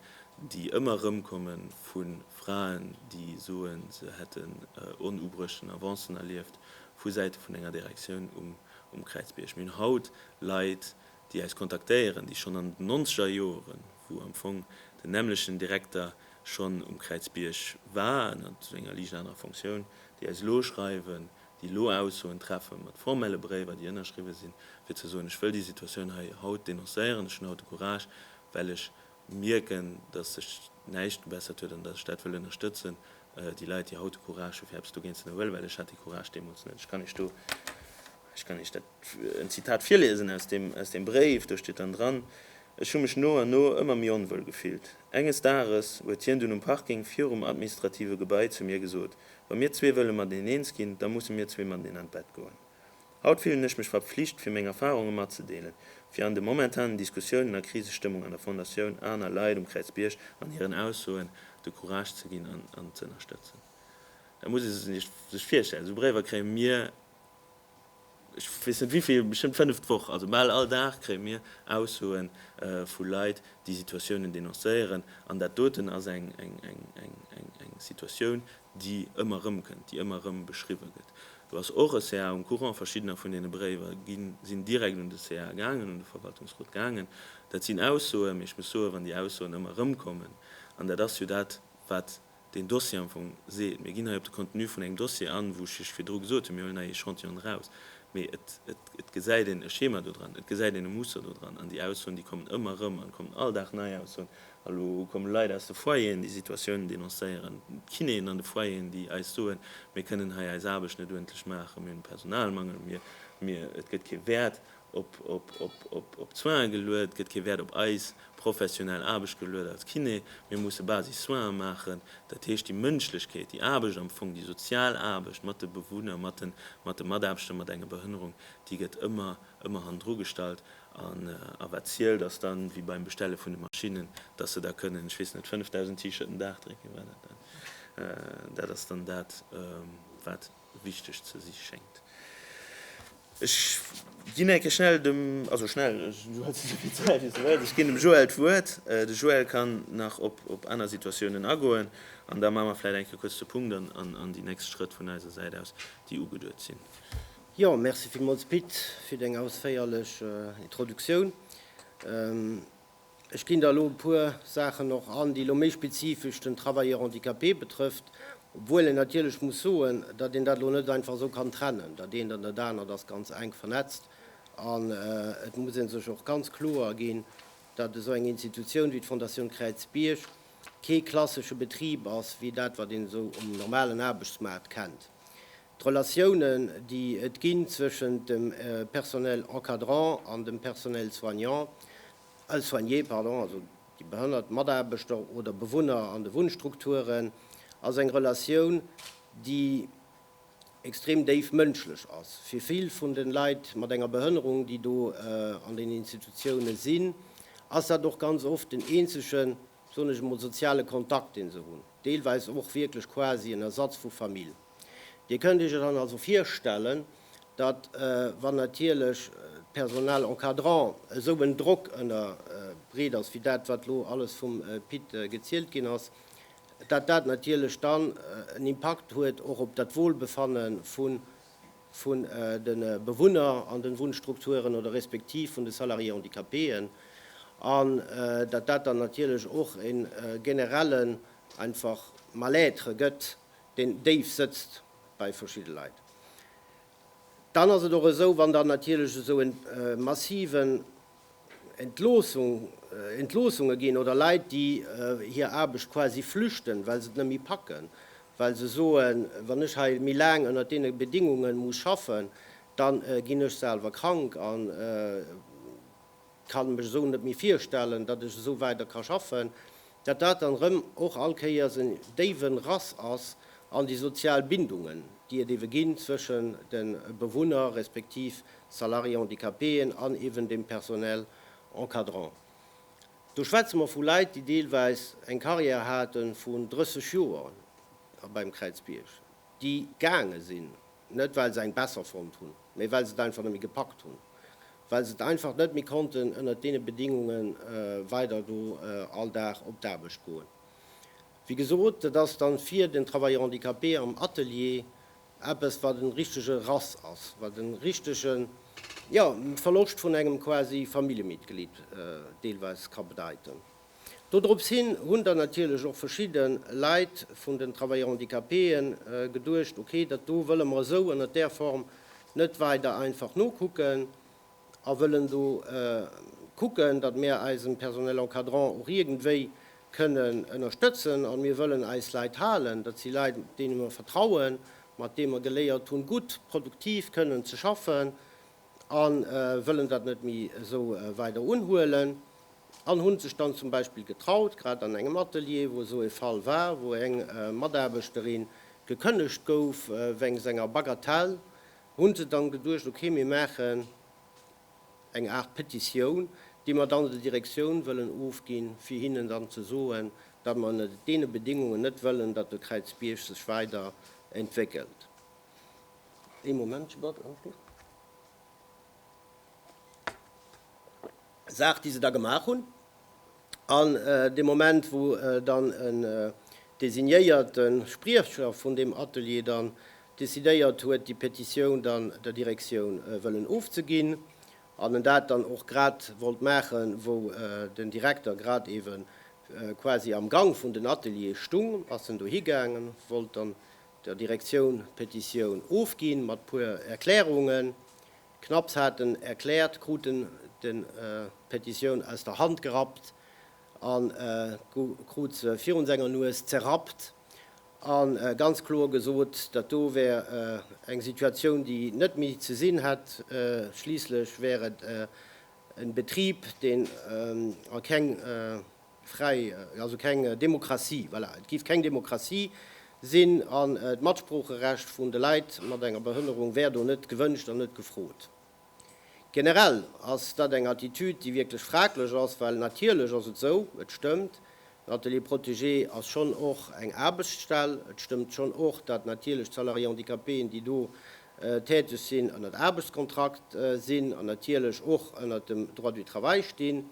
Speaker 1: déi ëmmer erëmkomme vu Fraen, déi soen, se hätten onubruechten Avancen erlieft vu Säite vun enger Direktioun um Kräizbierg. Mir hunn haut Leit, déi eis kontaktéieren, déi schonn an den Nonzegerjoren, wou am Fong den nämmlechten Direkter schonn um Kräizbierg war, an zu enger liicht anerer Fonctioun, déi eis elo schreiwen, déi elo Aussoen treffe mat formelle Bréiwer, déi ënnerschriwwe sinn, fir ze soen, ech wëll déi Situatioun hei haut denoncéieren, ech hunn haut de Courage, well ech mierken, datt sech näischt gebessert huet an datt ech dat wëll ënnerstëtzen, déi Leit, déi haut de Courage hu fir eppes dogéint ze ënnerhuelen, well ech hat dee Courage deemools net. Ech kann Iech do, ech kann Iech dat, en Zitat virliesen aus deem, aus deem Bréif, do steet dann dran, Ech hu mech no an no ëmmer méi onwuel gefillt. Enges Dages huet hien dunn um Parking virum administrative Gebai zu mir gesot, Wa mir zwee wëlle mat een eens ginn, da musse mir zwee mat een an d'Bett goen. Haut fillen ech mech verpflicht, fir meng Erfarunge matzedeelen, fir an de momentanen Diskussiounen a Krisestëmmung an der Fondatioun aner Leit um Kräizbierg an hiren Aussoen de Courage ze ginn an ze ënnerstëtzen. Dat muss ee sech virstellen, esou Bréiwer kréie mir. ech weess net wivill, bestëmmt fënnef d'Woch, also bal all Dag kréie mir Aussoe vu Leit, déi Situatiounen denoncéieren. An dat doten ass eng Situatioun, déi ëmmer erëmkënnt, déi ëmmer erëm beschriwwe gëtt. Do ass och e ca um Courant. Verschiddener vun deene Bréiwer sinn direkt un de ca gaangen, un de Verwaltungsrot gaangen. Dat sinn Aussoen, mee ech muss soen, wann déi Aussoen ëmmer erëmkommen, an dat ass jo dat, wat deen Dossier am Fong seet. Mir ginn hei op de Contenu vun engem Dossier an, wou ech lech virdru gesot hunn, mir huelen hei Echantillone raus. Mee et, et, et gesäit een e Schema do dran, et gesäit een e Muster do dran. An déi Aussoen, déi kommen ëmmer erëm an kommen all Dag nei Aussoen. Elo komme Leit aus de Foyeren, déi Situatiounen denoncéieren, d'Kinéen an de Foyeren, déi eis soen, mir kënnen hei eis Aarbecht net uerdentlech maachen, mir hunn e Personalmangel, mir, mir, et gëtt kee Wäert op Soinen geluet, gëtt kee Wäert op eis professionell Aarbecht geluet als Kiné. Mir musse Basis-Soinen maachen, dat heescht déi Mënschlechkeet, déi Aarbecht am Fong, déi sozial Aarbecht mat de Bewunner, mat de Mataarbechter mat enger Behënnerung, déi gëtt ëmmer, ëmmer hannendru gestallt. A wat zielt ass dann, wéi beim Bestelle vun de Maschinnen, dass se da kënnen, ech weess net, 5.000 T-Shirten Dag drécken, war dat dat? Dat ass dann dat wat. wichteg ze si schéngt. Ech ginn enke schnell dem, also schnell, du hues esou vill Zäit wéi s du wëlls, ech ginn dem Joël d'Wuert. De Joël kann nach op aner Situatiounen agoen an da maache mer vläicht enke kuerz de Punkt an déi nächst Schrëtt vun eiser Säit aus, déi ugeduet sinn. Jo, merci villmools Pit fir deng ausféierlech Introduktioun. Ech ginn der elo e puer Saachen och an, déi elo méi spezifesch den Travailleur handicapé betrëfft, obwuel een natierlech muss soen, datt een dat elo net einfach esou kann trennen. Dat eent an dat anert ass ganz enk vernetzt an et muss ee sech och ganz kloer ginn, datt esou eng Institutioun wéi d'Fondation Kräizbierg kee klassesche Betrib ass wéi dat, wat een esou um normalen Aarbechtsmaart kennt. D'Relatiounen, déi et ginn zwëschent dem Personnel encadrant an dem Personnel soignant, soigné, pardon, also déi behënnert Mataarbechter oder Bewunner an de Wunnstrukturen, ass eng Relatioun, déi extrem déif mënschlech ass. Fir vill vun de Leit mat enger Behënnerung, déi do an den Institutiounen sinn, ass dat och ganz oft den eenzegen. soen ech emol, soziale Kontakt, dee se hunn, deelweis och wierklech quasi en Ersatz vu Famill. Dir kënnt Iech et dann also virstellen, datt, wann natierlech d'Personal encadrant esou en Drock ënner briet ass, wéi dat, wat elo alles vum Pit gezielt ginn ass, datt dat natierlech dann en Impakt huet och op dat Wohlbefanne vu vun de Bewunner an de Wunnstrukturen oder respektiv vun de Salariés handicapéen, an datt dat dann natierlech och e generellen einfach Mal-être gëtt, deen déif sëtzt bei verschidde Leit. Dann ass et och esou, wann dann natierlech esou e massiven, Entloossunge ginn oder Leit, déi hir Aarbecht quasi flüchten, well se et net méi packen, well se soen, wann ech hei méi laang ënnert deene Bedingunge muss schaffen, da ginn ech selwer krank a kann mech esou net méi virstellen, datt ech esou weider ka schaffen. Datt dat dann erëm och all Kéiers en déiwen Rass ass an déi sozial Bindungen, déi et ewe ginn zwëschen de Bewunner respektiv Salariés handicapéen an ewen dem Personnel encadrant. Do schwätze mer vu Leit, déi deelweis eng Carrière hate vun 30 Joer beim Kräizbierg, déi gaange sinn, Net well se eng besser fonnt hunn, mee well se et einfach net méi gepackt hunn, well se et einfach net méi konnten ënnert deene Bedingunge weider do all Dag op d'Aarbecht goen. Wéi gesot, et ass da fir den Travailleur handicapé am Atelier eppes wat en richtege Rass ass, wat e richtege jo Verloscht vun engem quasi Familljemitglied deelweis ka bedeiten. Dodrops hin hunn dann natierlech och verschidde Leit vun den Travailleurs handicapéë geduecht, okay, dat do wëlle mer esou ënnert där Form net weider einfach nokucken a wëllen do kucken, datt mir eisen Personnel encadrant och iergendwéi kënnen ënnerstëtzen. A mir wëllen eis Leit halen. Dat si Leit, deene mer vertrauen, mat deem mer geléiert hunn, gutt, produktiv kënnen ze schaffen a wëllen dat net méi esou weider unhuelen. an hunn sech dann zum Beispill getraut, grad an engem Atelier, wou esou e Fall war, wou eng Mataarbechterin gekënnegt gouf wéngs enger Bagatelle, hunn se dann geduecht, ok, mir maachen eng Aart Petitioun, déi mer dann der Direktioun wëllen ofginn, fir hinnen dann ze soen, datt mer ënnert deene Bedingungen net wëllen, datt de Kräizbierg sech weider entwéckelt. Ee Momentchen, Bart. Saach déi se da gemaach hunn. An dee Moment wou dann en designéierte Spriecher vun deem Atelier dann decidéiert huet déi Petitioun dann der Direktioun wëllen ofzeginn an en dat dann och grad wollt maachen wou den Direkter grad eewe quasi am Gang vun den Ateliere stung, ass en dohi gaangen, wollt dann der Direktioun d'Petitioun ofginn, mat puer Erklärungen. Knapps haten erkläert, kruten de Petitioun aus der Hand gerappt an krut se virun senger Nues zerrappt an ganz kloer gesot, dat do wär eng Situatioun déi net méi ze sinn hätt. Schliisslech wär et en Betrib deen a keng Fräi, also keng Demokratie, voilà, et giff keng Demokratie sinn an d'Matsproocherecht vun de Leit mat enger Behënnerung wär do net gewënscht an net gefrot. Generell ass dat eng Attitüd, déi wierklech fraglech ass, well natierlech ass et esou, et stëmmt, den Atelier protégé ass schonn och eng Aarbechtsstell, et stëmmt schonn och, dat natierlech d'Salariés handicapéen, déi do täteg sinn, ënnert Aarbechtskontrakt sinn an natierlech och ënnert dem Droit du travail stinn.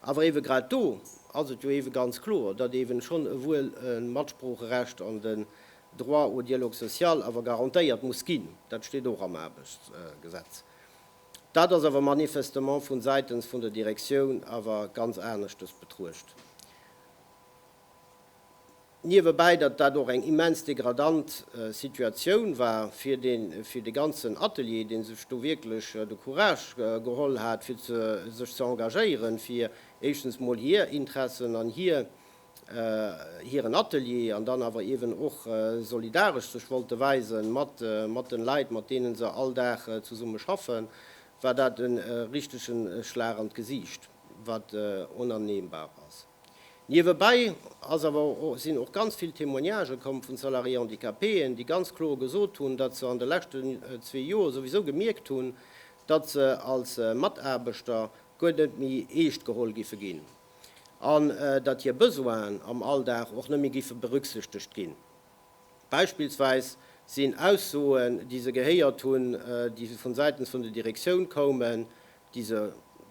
Speaker 1: Awer ewe grad do ass et jo ewe ganz kloer, datt ewe schonn ewuel e Matsproocherecht an den Droit au dialogue social awer garantéiert muss ginn, dat steet och am Aarbechtsgesetz. Dat ass awer manifestement vu Säitens vun der Direktioun awer ganz aneschtes betruecht. Niewebäi, datt dat och eng immens degradant Situatioun war fir de fir de ganzen Atelier, dee sech do wierklech de Courage geholl hat, fir ze sech ze engagéieren, fir éischtens emol hir Interessen an hir hiren Atelier an dann awer eeben och solidaresch sech wollte weise mat mat de Leit, mat deene se all Dag zesumme schaffen, war dat e richtegen Schlag an d'Gesiicht, wat onannehmbar ass. Niewebäi ass awer och, sinn och ganz vill Témoignagen komm vun Salariés handicapéen, déi ganz kloer gesot hunn, datt se an de leschten zwee Joer souwisou gemierkt hunn, datt se als Mataarbechter guer net méi eescht geholl giffe ginn an datt hir Besoinen am Alldag och net méi giffe berücksichtegt ginn. Beispillsweis sinn Aussoen, déi se gehéiert hunn, déi vu Säitens vun der Direktioun koumen, déi se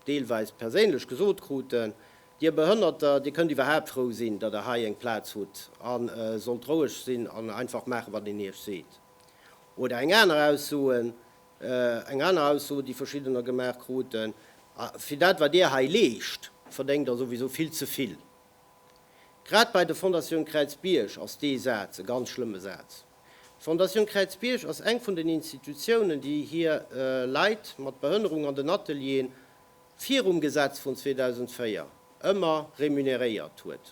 Speaker 1: deelweis perséinlech gesot kruten, Dir Behënnerter, Dir kënnt iwwerhaapt frou sinn, datt Der hei eng Plaz hutt a sollt roueg sinn an einfach maachen, wat een Iech seet. Oder eng aner Ausso, eng aner Ausso, déi Verschiddener gemaach kruten, A fir dat, wat Dir hei leescht, verdéngt Der souwisou vill ze vill. Grad bei der Fondatioun Kräizbierg ass dee Saz e ganz schlëmme Saz. D'Fondation Kräizbierg ass eng vun den Institutiounen, déi hir Leit mat Behënnerung an den Atelieren virum Gesetz vun 2004 ëmmer remuneréiert huet.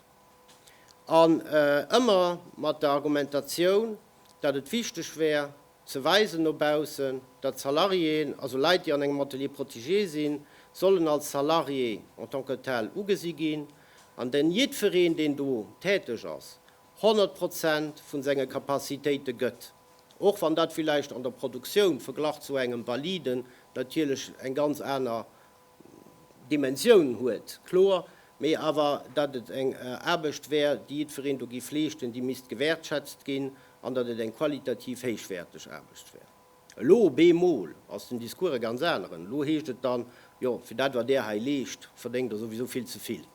Speaker 1: An ëmmer mat der Argumentatioun, datt et wichteg wär ze weisen no baussen, datt Salariéen, also Leit, déi an engem Atelier protégé sinn, sollen als Salarié en tant que tel ugesi ginn, an datt jiddwereen, deen do täteg ass, 100 Prozent vu senge Capacitéite gëtt, och wann dat villäicht an der Produktioun verglach zu engem Validen natierlech eng ganz aner Dimensioun huet, kloer, mee awer datt et eng Aarbecht wär, déi jiddwereen do giff leeschten, déi misst gewäertschätzt ginn an datt et eng qualitativ héichwäerteg Aarbecht wär. Elo op eemol ass den Discours e ganz aneren. Elo heescht et dann, jo, fir dat wat Der hei leescht, verdéngt Der souwisou vill ze vill.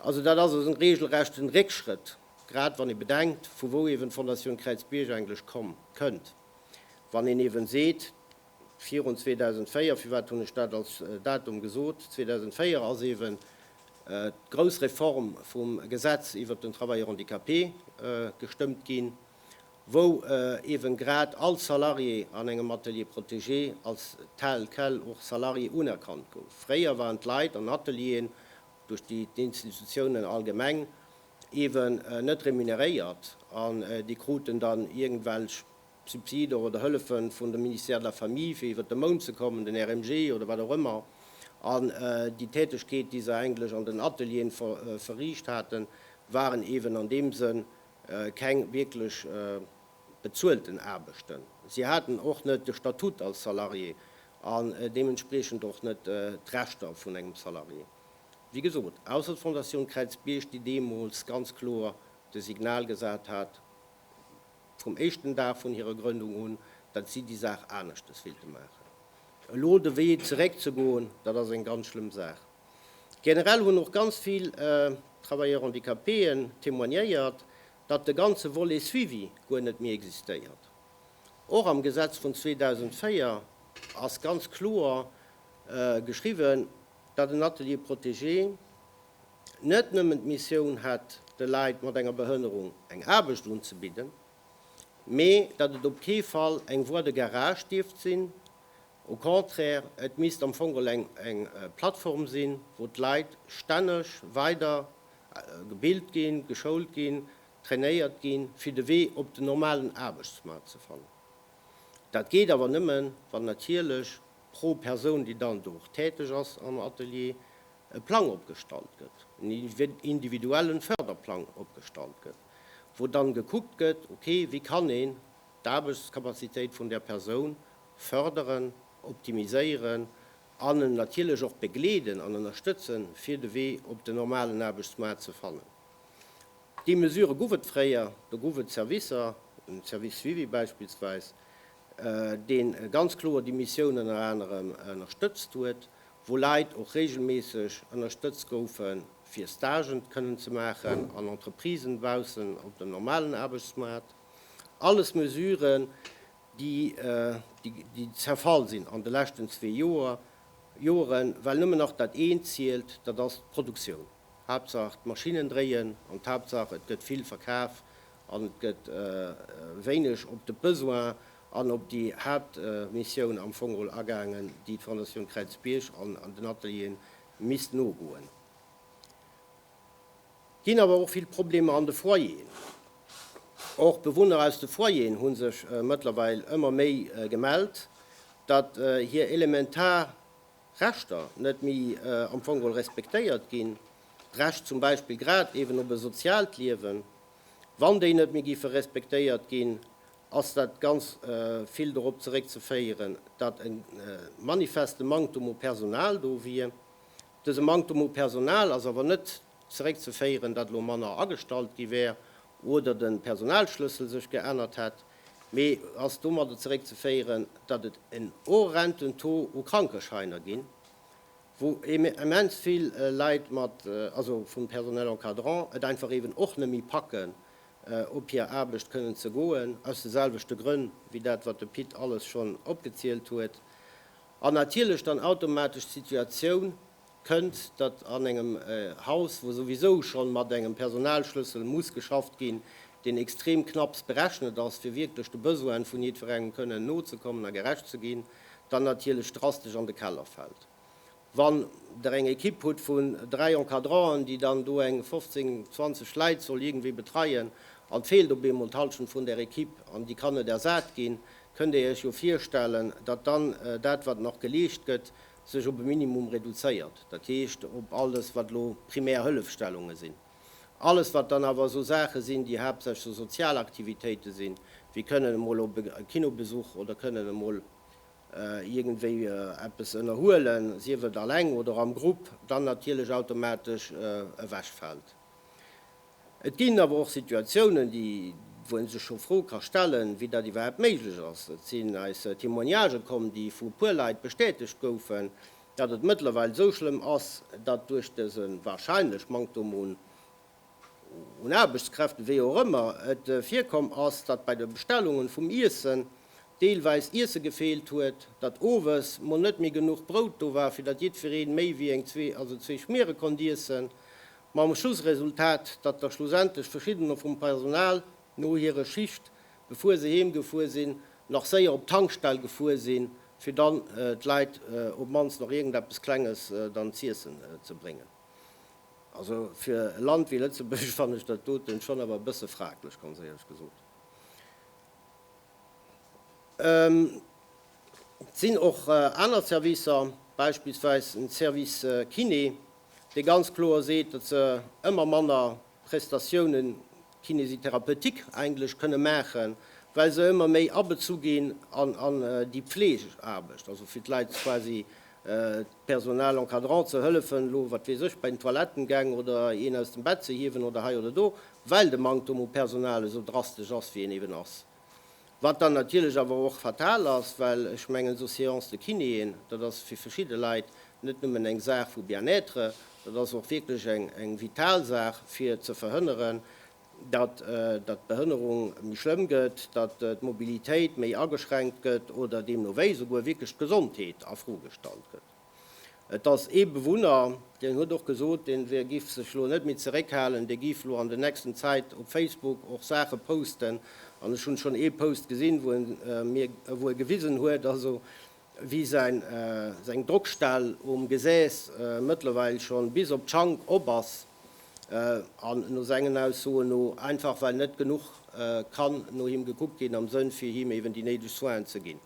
Speaker 1: Also dat ass e regelrechten Réckschrëtt, grad wann ee bedenkt, vu wou ewen d'Fondation Kräiz Bierg eigentlech komm, kënnt. Wann een ewen seet, virun 2004, firwat hunn ech dat als Datum gesot, 2004 ass ewen d'grouss Reform vum Gesetz iwwert den Travailleur handicapé gestëmmt ginn, wou eeben grad all Salarié an engem Atelier protégé als tel quel och Salarié unerkannt gouf. Fréier waren d'Leit an Atelieren duerch déi d'Institutiounen allgemeng eeben net remuneréiert an déi kruten dann iergendwelch Subsider oder Hëllefe vun dem Ministère de la Famille fir iwwert de Mount ze kommen, den RMG oder wat och ëmmer. An déi Tätegkeet déi se eigentlech an den Atelieren verriicht haten, waren eeben an deem Sënn keng wierklech bezuelten Aarbechten, si haten och net de Statut als Salarié an deementspriechend och net d'Rechter vun engem Salarié. Wéi gesot, ausser d'Fondatioun Kräizbierg, déi deemools ganz kloer de Signal gesat hat, vum éischten Dag vun hirer Grëndung un, datt si déi Saach aneschtes wéilte maachen. Elo de Wee zeréckzegoen, dat ass eng ganz schlëmm Saach. Generell hunn och ganz vill Travailleurs handicapéen témoignéiert, datt de ganze Volet Suivi guer net méi existéiert. Och am Gesetz vun 2004 ass ganz kloer geschriwwen, datt en Atelier protégé net nëmmen d'Missioun hätt, de Leit mat enger Behënnerung eng Aarbecht unzebidden, mee datt et op kee Fall eng Voie de garage dierft sinn, Au contraire, et misst am Fong all eng eng Plattform sinn, wou d'Leit stänneg weider gebilt ginn, geschoult ginn, trainéiert ginn, fir de Wee op den normalen Aarbechtsmaart ze fannen. Dat geet awer nëmme, wann natierlech pro Persoun, déi dann do och täteg ass am Atelier, e Plang opgestallt gëtt, en individuellen Förderplang opgestallt gëtt, wou dann gekuckt gëtt, ok, wéi kann een d'Aarbechtscapacitéit vun där Persoun Fërderen, optimiséieren an en natierlech och begleeden an ënnerstëtzen, fir de Wee op den normalen Aarbechtsmaart ze fannen. Déi Mesure gouf et fréier. Do gouf et Servicer, den Service Suivi beispillsweis, dee ganz kloer déi Missioun ënner anerem ënnerstëtzt huet, wou Leit och reegelméisseg ënnerstëtzt goufe fir Stagen kënnen ze maachen an Entreprisen baussen op dem normalen Aarbechtsmaart. Alles Mesuren, déi zerfall sinn an de leschten zwee Joeren, well nëmmen nach dat eent zielt, dat ass d'Produktioun. Haaptsaach d'Maschinnen dréien an d'Haaptsaach et gëtt vill verkaf an et gëtt wéineg op de Besoin an op déi Haaptmissioun am Fong erol agaangen, déi d'Fondation Kräizbierg an den Atelieren misst nogoen. Ginn awer och vill Problemer an de Foyeren. Och Bewunner aus de Foyeren hu sech mëttlerweil ëmmer méi gemellt, datt hir elementar Rechter net méi am Fong geholl respektéiert ginn, d'Recht zum Beispill grad eeben op e soziaalt Liewen. Wann déi net méi géife respektéiert ginn, ass dat ganz vill dorop zeréckzeféieren, datt e manifeste Manktum u Personal do wier, Dëse Manktem u Personal ass awer net zeréckzeféieren, datt elo manner agestallt gi wär oder de Personalschlëssel sech geännert hätt, mee ass domadder zeréckzeféieren, datt et en horrenden Taux u Krankescheiner ginn, wou immens vill Leit mat, also vum Personnel encadrant, et einfach eeben och net méi packen, op hir Aarbecht kënnen ze goen, aus de selwechte Grënn wéi dat, wat de Pit alles schonn opgezielt huet. An natierlech dann automatesch d'Situatioun kënnt, datt an engem Haus, wou souwisou schonn mat engem Personalschlëssel muss geschafft ginn, deen extrem knapps berechnet ass, fir wierklech de Besoinen vun jiddwerengem kënnen nozekommen a gerecht ze ginn, dann natierlech drastesch an de Keller fält. Wann Der eng Equipe hutt vun dräi Encadranten, déi dann do eng 15, 20 Leit soll iergendwéi betreien an d'feelt op eemol d'Hallschent vun där Equipe an déi kann net ersat ginn, kënnt Dir Iech jo virstellen, datt dann dat, wat nach geleescht gëtt, sech op e Minimum reduzéiert, dat heescht op all dës, wat elo primär Hëllefstellunge sinn. Alles, wat dann awer esou Saache sinn, déi haaptsächlech esou sozial Aktivitéite sinn, wéi kënnen emol op e Kinobesuch oder kënnen emol iergendwéi eppes ënnerhuelen, sief et alleng oder am Grupp, dann natierlech automatesch ewechfält. Et ginn awer och Situatiounen, déi wou ee sech scho Froe ka stellen, wéi dat iwwerhaapt méiglech ass. Et sinn eis Témoignagen komm, déi vu puer Leit bestätegt goufen, datt et mëttlerweil esou schlëmm ass, datt duerch dëse wahrscheinlech Manktum un Aarbechtskräften, wéi och ëmmer et virkomm ass, datt bei de Bestellungen vum Iessen deelweis Iesse gefeelt huet, datt owes mol net méi genuch Brout do war, fir datt jiddweree méi wéi eng zwee, also zwee Schmiere konnt iessen, mam Schlussresultat, datt da schlussendlech verschiddener vum Personal no hire Schicht, befuer se heem gefuer sinn, nach séier op d'Tankstell gefuer sinn, fir dann d'Leit op d'mannst nach iergendeppes Klenges dann z'iessen ze bréngen. Also fir e Land wéi Lëtzebuerg fannen ech dat doten schonn awer e bësse fraglech, ganz éierlech gesot. Et sinn och aner Servicer, beispillsweis en Service Kiné, dee ganz kloer seet, datt se ëmmer manner Prestatiounen kinésithérapeutique, englesch, kënne maachen, well se ëmmer méi abezu ginn an déi Pfleegeaarbecht, also fir d'Leit quasi Personal encadrant ze hëllefen, elo, wat weess ech, bei den Toilettengäng oder een aus dem Bett ze hiewen oder hei oder do, well de Manktum u Personal esou drastesch ass, wéi en eben ass. Wat dann natierlech awer och fatal ass, well ech mengen, esou Séances de kinéen, dat ass fir verschidde Leit net nëmmen eng Saach vu Bien-être, dat ass och wierklech eng vital Saach, fir ze verhënneren, datt d'Behënnerung méi schlëmm gëtt, datt d'Mobilitéit méi ageschränkt gëtt oder deemno wéi esouguer wierklech d'Gesondheet a Fro gestallt gëtt. Et ass ee Bewunner, deen huet och gesot, dee wier giff sech elo net méi zeréckhalen, dee giff elo an der nächsten Zäit op Facebook och Saache posten, an ech hunn schonn ee Post gesinn, wou e mir, wou e gewisen huet, also Wéi säin seng Drockstell um Gesäss mëttlerweil schonn bis op d'Schank op ass, an no sengen Aussoen no einfach well net genuch kann no him gekuckt ginn am Sënn fir him eben déi néideg Soinen ze ginn.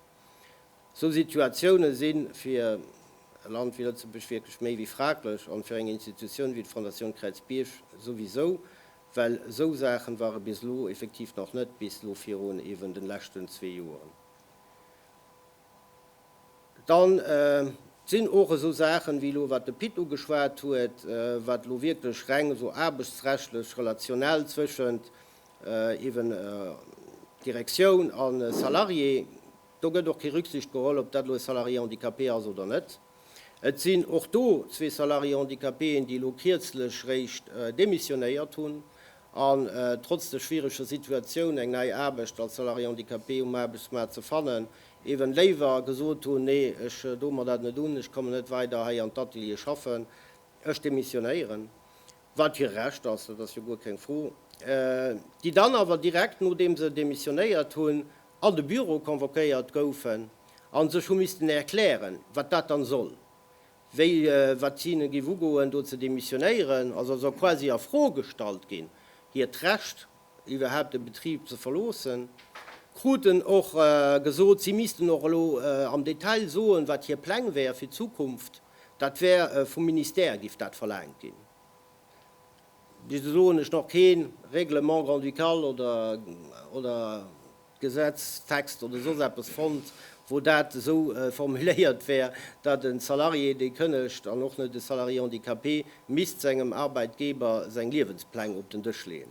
Speaker 1: Sou Situatiounen sinn fir e Land wéi Lëtzebuerg wierklech méi wéi fraglech, an fir eng Institutioun wéi d'Fondatioun Kräizbierg souwisou, well sou Saachen ware bis elo effektiv nach net, bis elo virun eben den leschten zwee Joeren. Dann sinn och esou Saachen, wéi elo wat de Pit ugeschwat huet, wat elo wierklech reng esou aarbechtsrechtlech, relationell zwëschent eeben Direktioun a Salarié, do gëtt och kee Rücksicht geholl, ob dat elo e Salarié handicapé ass oder net. Et sinn och do zwee Salariés handicapéen, déi elo kierzlech réischt demissionéiert hunn an trotz der schwiereger Situatioun, eng nei Aarbecht als Salarié handicapé um Aarbechtsmaart ze fannen, eeben léiwer gesot hunn, Nee, ech doen mer dat net un, ech kommen net weider hei an d'Ateliere schaffen, ech demissionéieren. Wat hire Recht ass, dat ass jo guer keng Fro. Déi dann awer direkt, nodeem se demissionéiert hunn, an de Büro convoquéiert goufen a sech hu missten erklären, wat dat dann soll, wéi wat si hinnen géif ugoen do ze demissionéieren, also soll quasi a Fro gestallt ginn, hiert Recht iwwerhaapt de Betrib ze verloossen, kruten och gesot, si missten och elo am Detail soen, wat hir Pläng wäer fir d'Zukunft, dat wär vum Ministère, géif dat verlaangt ginn. Bis elo hunn ech nach kee Règlement grand-ducal oder Gesetztext oder soss eppes fonnt, wou dat esou formuléiert wär, datt e Salarié, dee kënnegt, an och net e Salarié handicapé, misst sengem Arbeitgeber seng Liewenspläng op den Dësch leeën.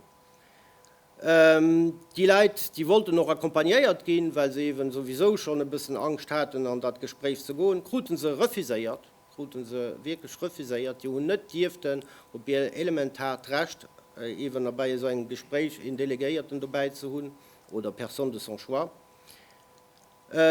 Speaker 1: Déi Leit, déi wollten och accompagnéiert ginn, well se eeben souwisou schonn e bëssen Angscht haten, an dat Gespréich ze goen, krute se refuséiert. krute se wierklech refuséiert, déi hunn net dierften op hir elementaart Recht, eeben a bei esou engem Gespréich een Delegéierten dobäi ze hunn oder Personne de son choix,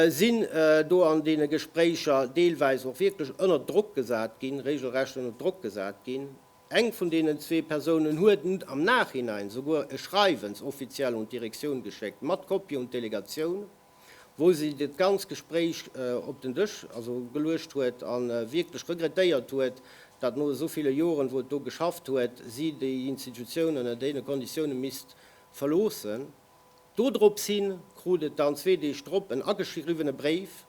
Speaker 1: sinn do an deene Gespréicher deelweis och wierklech ënnert Drock gesat ginn, regelrecht ënnert Drock gesat ginn. Eng vun deenen zwee Persounen huet am Nachhinein souguer e Schreiwens offiziell un d'Direktioun geschéckt, mat Kopie un d'Delegatioun. wou si dat ganz Gespréich op den Dësch geluecht huet a wierklech regrettéiert huet, datt no esou ville Joren, wou et do geschafft huet, si déi Institutioun ënner deene Konditioune misst verloossen. Dodrops hi krut et dann zwee Deeg drop en ageschriwwene Bréif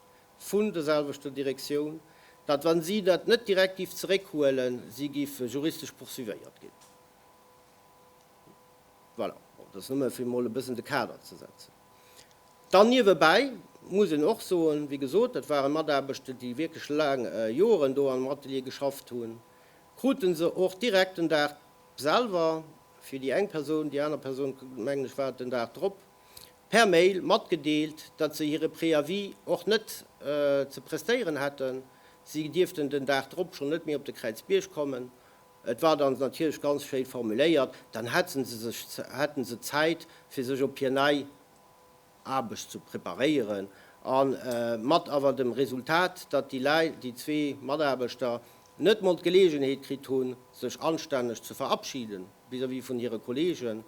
Speaker 1: vun der selwechter Direktioun, datt wa si dat net direkt géif zeréckhuelen, si géif juristesch poursuivéiert ginn. Voilà, dat ass nëmme fir emol e bëssen de Kader ze setzen. Dann niewebäi muss een och soen, wéi gesot, dat waren Mataarbechte, déi wierklech laang Joren do am Atelier geschafft hunn, krute se och direkt den Dag selwer, fir déi eng Persoun, déi aner Persoun, mengen ech, war et den Dag drop, per Mail matgedeelt, datt se hire Préavis och net ze prestéieren hätten, si dierften den Dag drop schonn net méi op de Kräizbierg kommen. Et war dann natierlech ganz schéi formuléiert, dann hätten se sech, hätten se Zäit fir sech op hir nei Aarbecht ze preparéieren an mat awer dem Resultat, datt déi Läit, déi zwee Mataarbechter net mol d'Geleegenheet kritt hunn sech anstänneg ze verabschiden vis-à-vis vun hire Kollegen,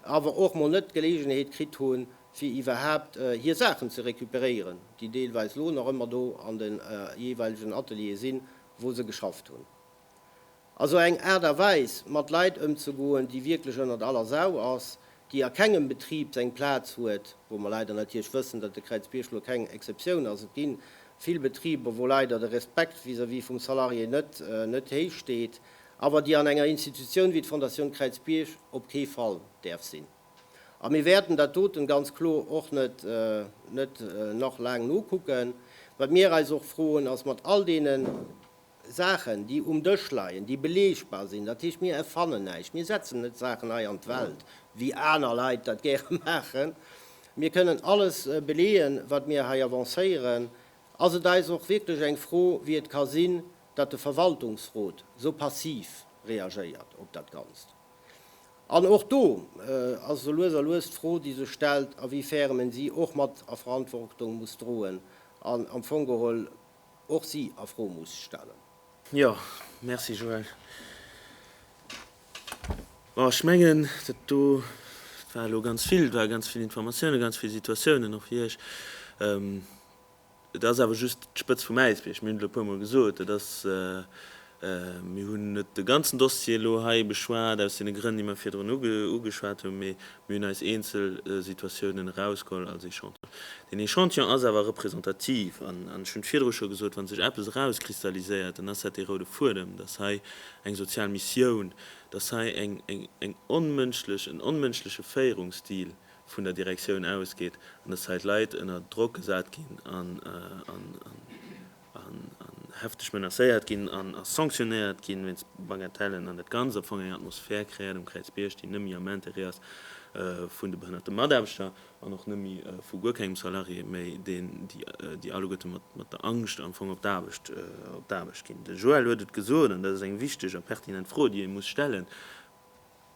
Speaker 1: awer och mol net d'Geleegenheet kritt hunn fir iwwerhaapt hir Saachen ze recuperéieren, déi deelweis lo nach ëmmer do an de jeeweilegen Ateliere sinn, wou se geschafft hunn. Also eng Aart a Weis mat Leit ëmzegoen, déi wierklech ënnert aller Sau ass, déi a kengem Betrib seng Plaz huet, wou mer leider natierlech wëssen, datt de Kräizbierg lo keng Exceptioun ass. Et gi vill Betriber, wou leider de Respekt vis-à-vis vum Salarié net, net héich steet, awer déi an enger Institutioun wéi d'Fondatioun Kräizbierg op kee Fall däerf sinn. A mir wäerten dat doten ganz kloer och net, net nach laang nokucken. Wat mir eis och froen, ass mat all deenen, Saachen, déi um Dësch leien, déi belegbar sinn. Dat heescht, mir erfannen näischt, mir setzen net Saachen hei an d'Welt, wéi aner Leit dat gäre maachen. Mir kënnen alles beleeën, wat mir hei avancéieren. Ass et eis och wierklech eng Fro, wéi et ka sinn, datt de Verwaltungsrot esou passiv reagéiert op dat Ganzt? An och do ass esou lues a lues d'Fro, déi sech stellt, awifärem en si och mat a Verantwortung muss droen an am Fong geholl och si a Fro muss stellen. Jo, merci Joël. Bon, ech mengen, dat do war elo ganz vill, et ware ganz vill Informatiounen, ganz vill Situatiounen och fir Iech. Et ass awer just d'Spëtz vum Äisbierg. Mir hunn et elo e puermol gesot, et ass, Mir hunn net de ganzen Dossier elo hei beschwat, aus deene Grënn, déi mer virdrun ugeschwat hunn, mee mir hunn eis eenzel Situatiounen erausgeholl als Echantillon. Deen Echantillon ass awer representativ an ech hunn et virdru scho gesot, Wa sech eppes erauskristalliséiert, dann ass dat dee roude Fuedem, dass hei eng sozial Missioun, dass hei eng onmënschlech, en onmënschleche Féierungsstil vun der Direktioun ausgeet an dass hei d'Leit ënner Drock gesat ginn an, an hefteg menacéiert ginn an a sanctionéiert gi wéinst Bagatellen an dat Ganzt am Fong eng Atmosphär kreéiert um Kräizbierg, déi nëmmi am Intérêt ass vun de behënnerte Mataarbechter an och nëmmi vu guer kengem Salarié méi, deen, déi, déi alleguerte mat der Angscht am Fong op d'Aarbecht, op d'Aarbecht ginn. De Joël huet et gesot, an dat ass eng wichteg a pertinent Fro, déi ee muss stellen,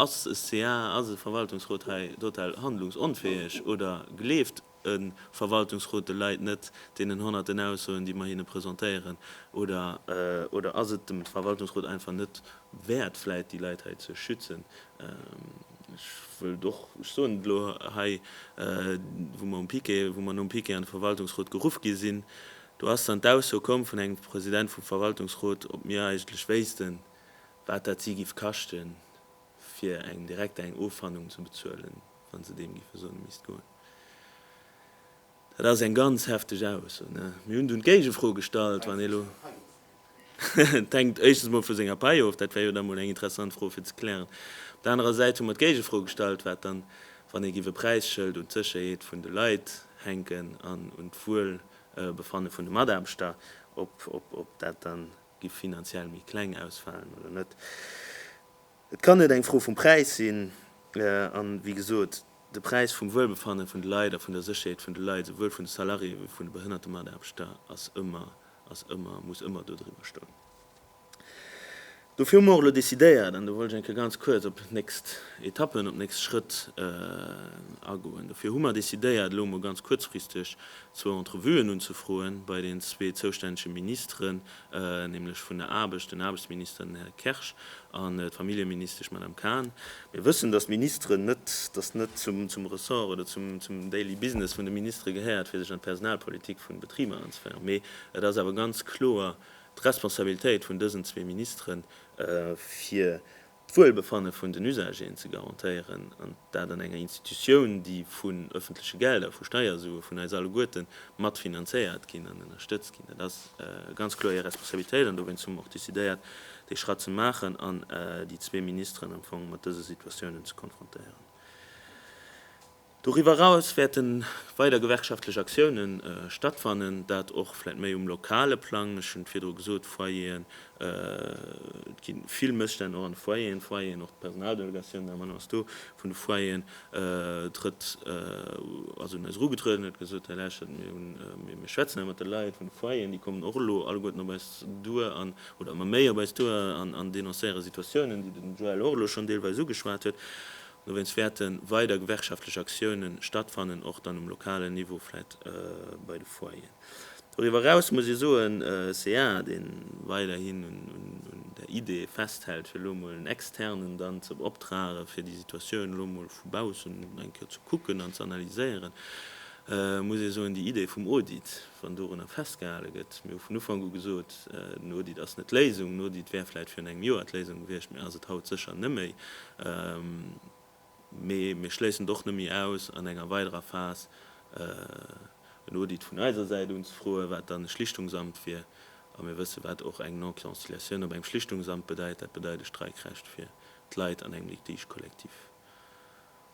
Speaker 1: Ass e ca, ass e Verwaltungsrot hei total handlungsonfäeg oder gleeft, E Verwaltungsrot eleit net deenen honnerten Aussoen, déi mer hinne presentéieren, oder? Oder ass et dem Verwaltungsrot einfach net wäert, vläit déi Leit hei ze schützen? Ech wëllt och, ech soen et elo hei, wou mer um Piquet, wou mer nom Piquet an de Verwaltungsrot geruff gi sinn, do ass dann d'Ausso komm vun engem President vum Verwaltungsrot, ob mir eigentlech wéissten, wat dat si giff kaschten. fir eng direkt eng Offanung ze bezuelen, wann se deem géife soen, e misst goen. Dat ass eng ganz hefteg Ausso. Mir hunn dunn d'Géigefro gestallt, wann ee lo. Et hänkt éischtens mol vu senger Pai of, dat wär jo da mol eng interessant Fro fir ze klären. Op der anerer Säit hu mer d'Géigefro gestallt, wat dann, wann ee giff e Präisschëld un d'Sécherheet vun de Leit hänken an un d'Wuelbefanne vun de Mataarbechter, ob dat dann gi finanziell méi kleng ausfalen oder net. Et kann net eng Fro vum Präis sinn. An, wéi gesot, de Präis vum Wuelbefanne vun de Leit a vun der Sécherheet vun de Leit, souwuel vun de Salariéë wéi vun de behënnerte Mataarbechter, ass ëmmer, ass ëmmer, muss ëmmer do driwwer stoen. Dofir hu mer och elo decidéiert, an do wollt ech eng Kéier ganz kuerz op d'nächst Etappen, op d'nächst Schrëtt agoen, dofir hu mer decidéiert, elo emol ganz kuerzfristeg, zwou Entrevuen unzefroen bei den zwee zoustännege Ministeren, nämlech vun der Aarbecht, den Aarbechtsminister, den Här Kersch, an d'Familljeministesch, d'Madame Cahn. Mir wëssen, dass d'Ministeren net, dass net zum Ressort oder zum daily business vun de Ministere gehéiert, fir sech an d'Personalpolitik vun de Betriber anzeféieren, mee et ass awer ganz kloer d'Responsabilitéit vun dësen zwee Ministeren, fir d'Wuelbefanne vun den Usagéen ze garantéieren, an dat an enger Institutioun, déi vun öffentleche Gelder, vu Steiersue vun eis alleguerte mat finanzéiert ginn an ënnerstëtzt ginn. Dat ass ganz kloer Är Responsabilitéit, an dowéinst hu mer och decidéiert, dee Schratt ze maachen an déi zwee Ministeren am Fong mat dëse Situatiounen ze konfrontéieren. Doriwwer eraus wäerte weider gewerkschaftlech Aktioune stattfannen, dat och vläit méi um lokale Plang. Ech hunn et virdru gesot, Foyeren, et gi vill Mësstänn och an de Foyeren, Foyeren, och d'Personaldelegatioun, Damen an Hären, ass do, vun de Foyeren trëtt, ass un eis erugetrueden, huet gesot, Här Läichert, mir hunn, mir schwätzen hei mat de Leit vun de Foyeren, déi kommen och elo alleguerten op eis duer an, oder ëmmer méi op eis duer an denoncéiere Situatiounen, déi den Joël och elo schonn deelweis ugeschwat huet. Dowéinst wäerte weider gewerkschaftlech Aktioune stattfannen, och dann um lokalen Niveau, vläicht bei de Foyeren. Doriwwer eraus muss ee soen, ca, dee weiderhin un der Idee festhält, fir elo emol en Externen dann ze beoptrage fir déi Situatioun elo emol vu baussen eng Kéier ze kucken an ze analyséieren, muss ee soen, déi Idee vum Audit, wann dorunner festgehale gëtt, mir hu vun Ufank u gesot, den Audit ass net d'Léisung, den Audit wär vläicht virun engem Joer d'Léisung gewiescht, mee ass et haut sécher neméi. Mee mir schléissen et och neméi aus, an enger weiderer Phas en Audit vun eiser Säit unzefroen, wat dann e Schlichtungsamt wier. A mir wëssen, wat och eng Non-Conciliatioun op engem Schlichtungsamt bedeit, dat bedeit e Streikrecht fir d'Leit an engem Litige collectif.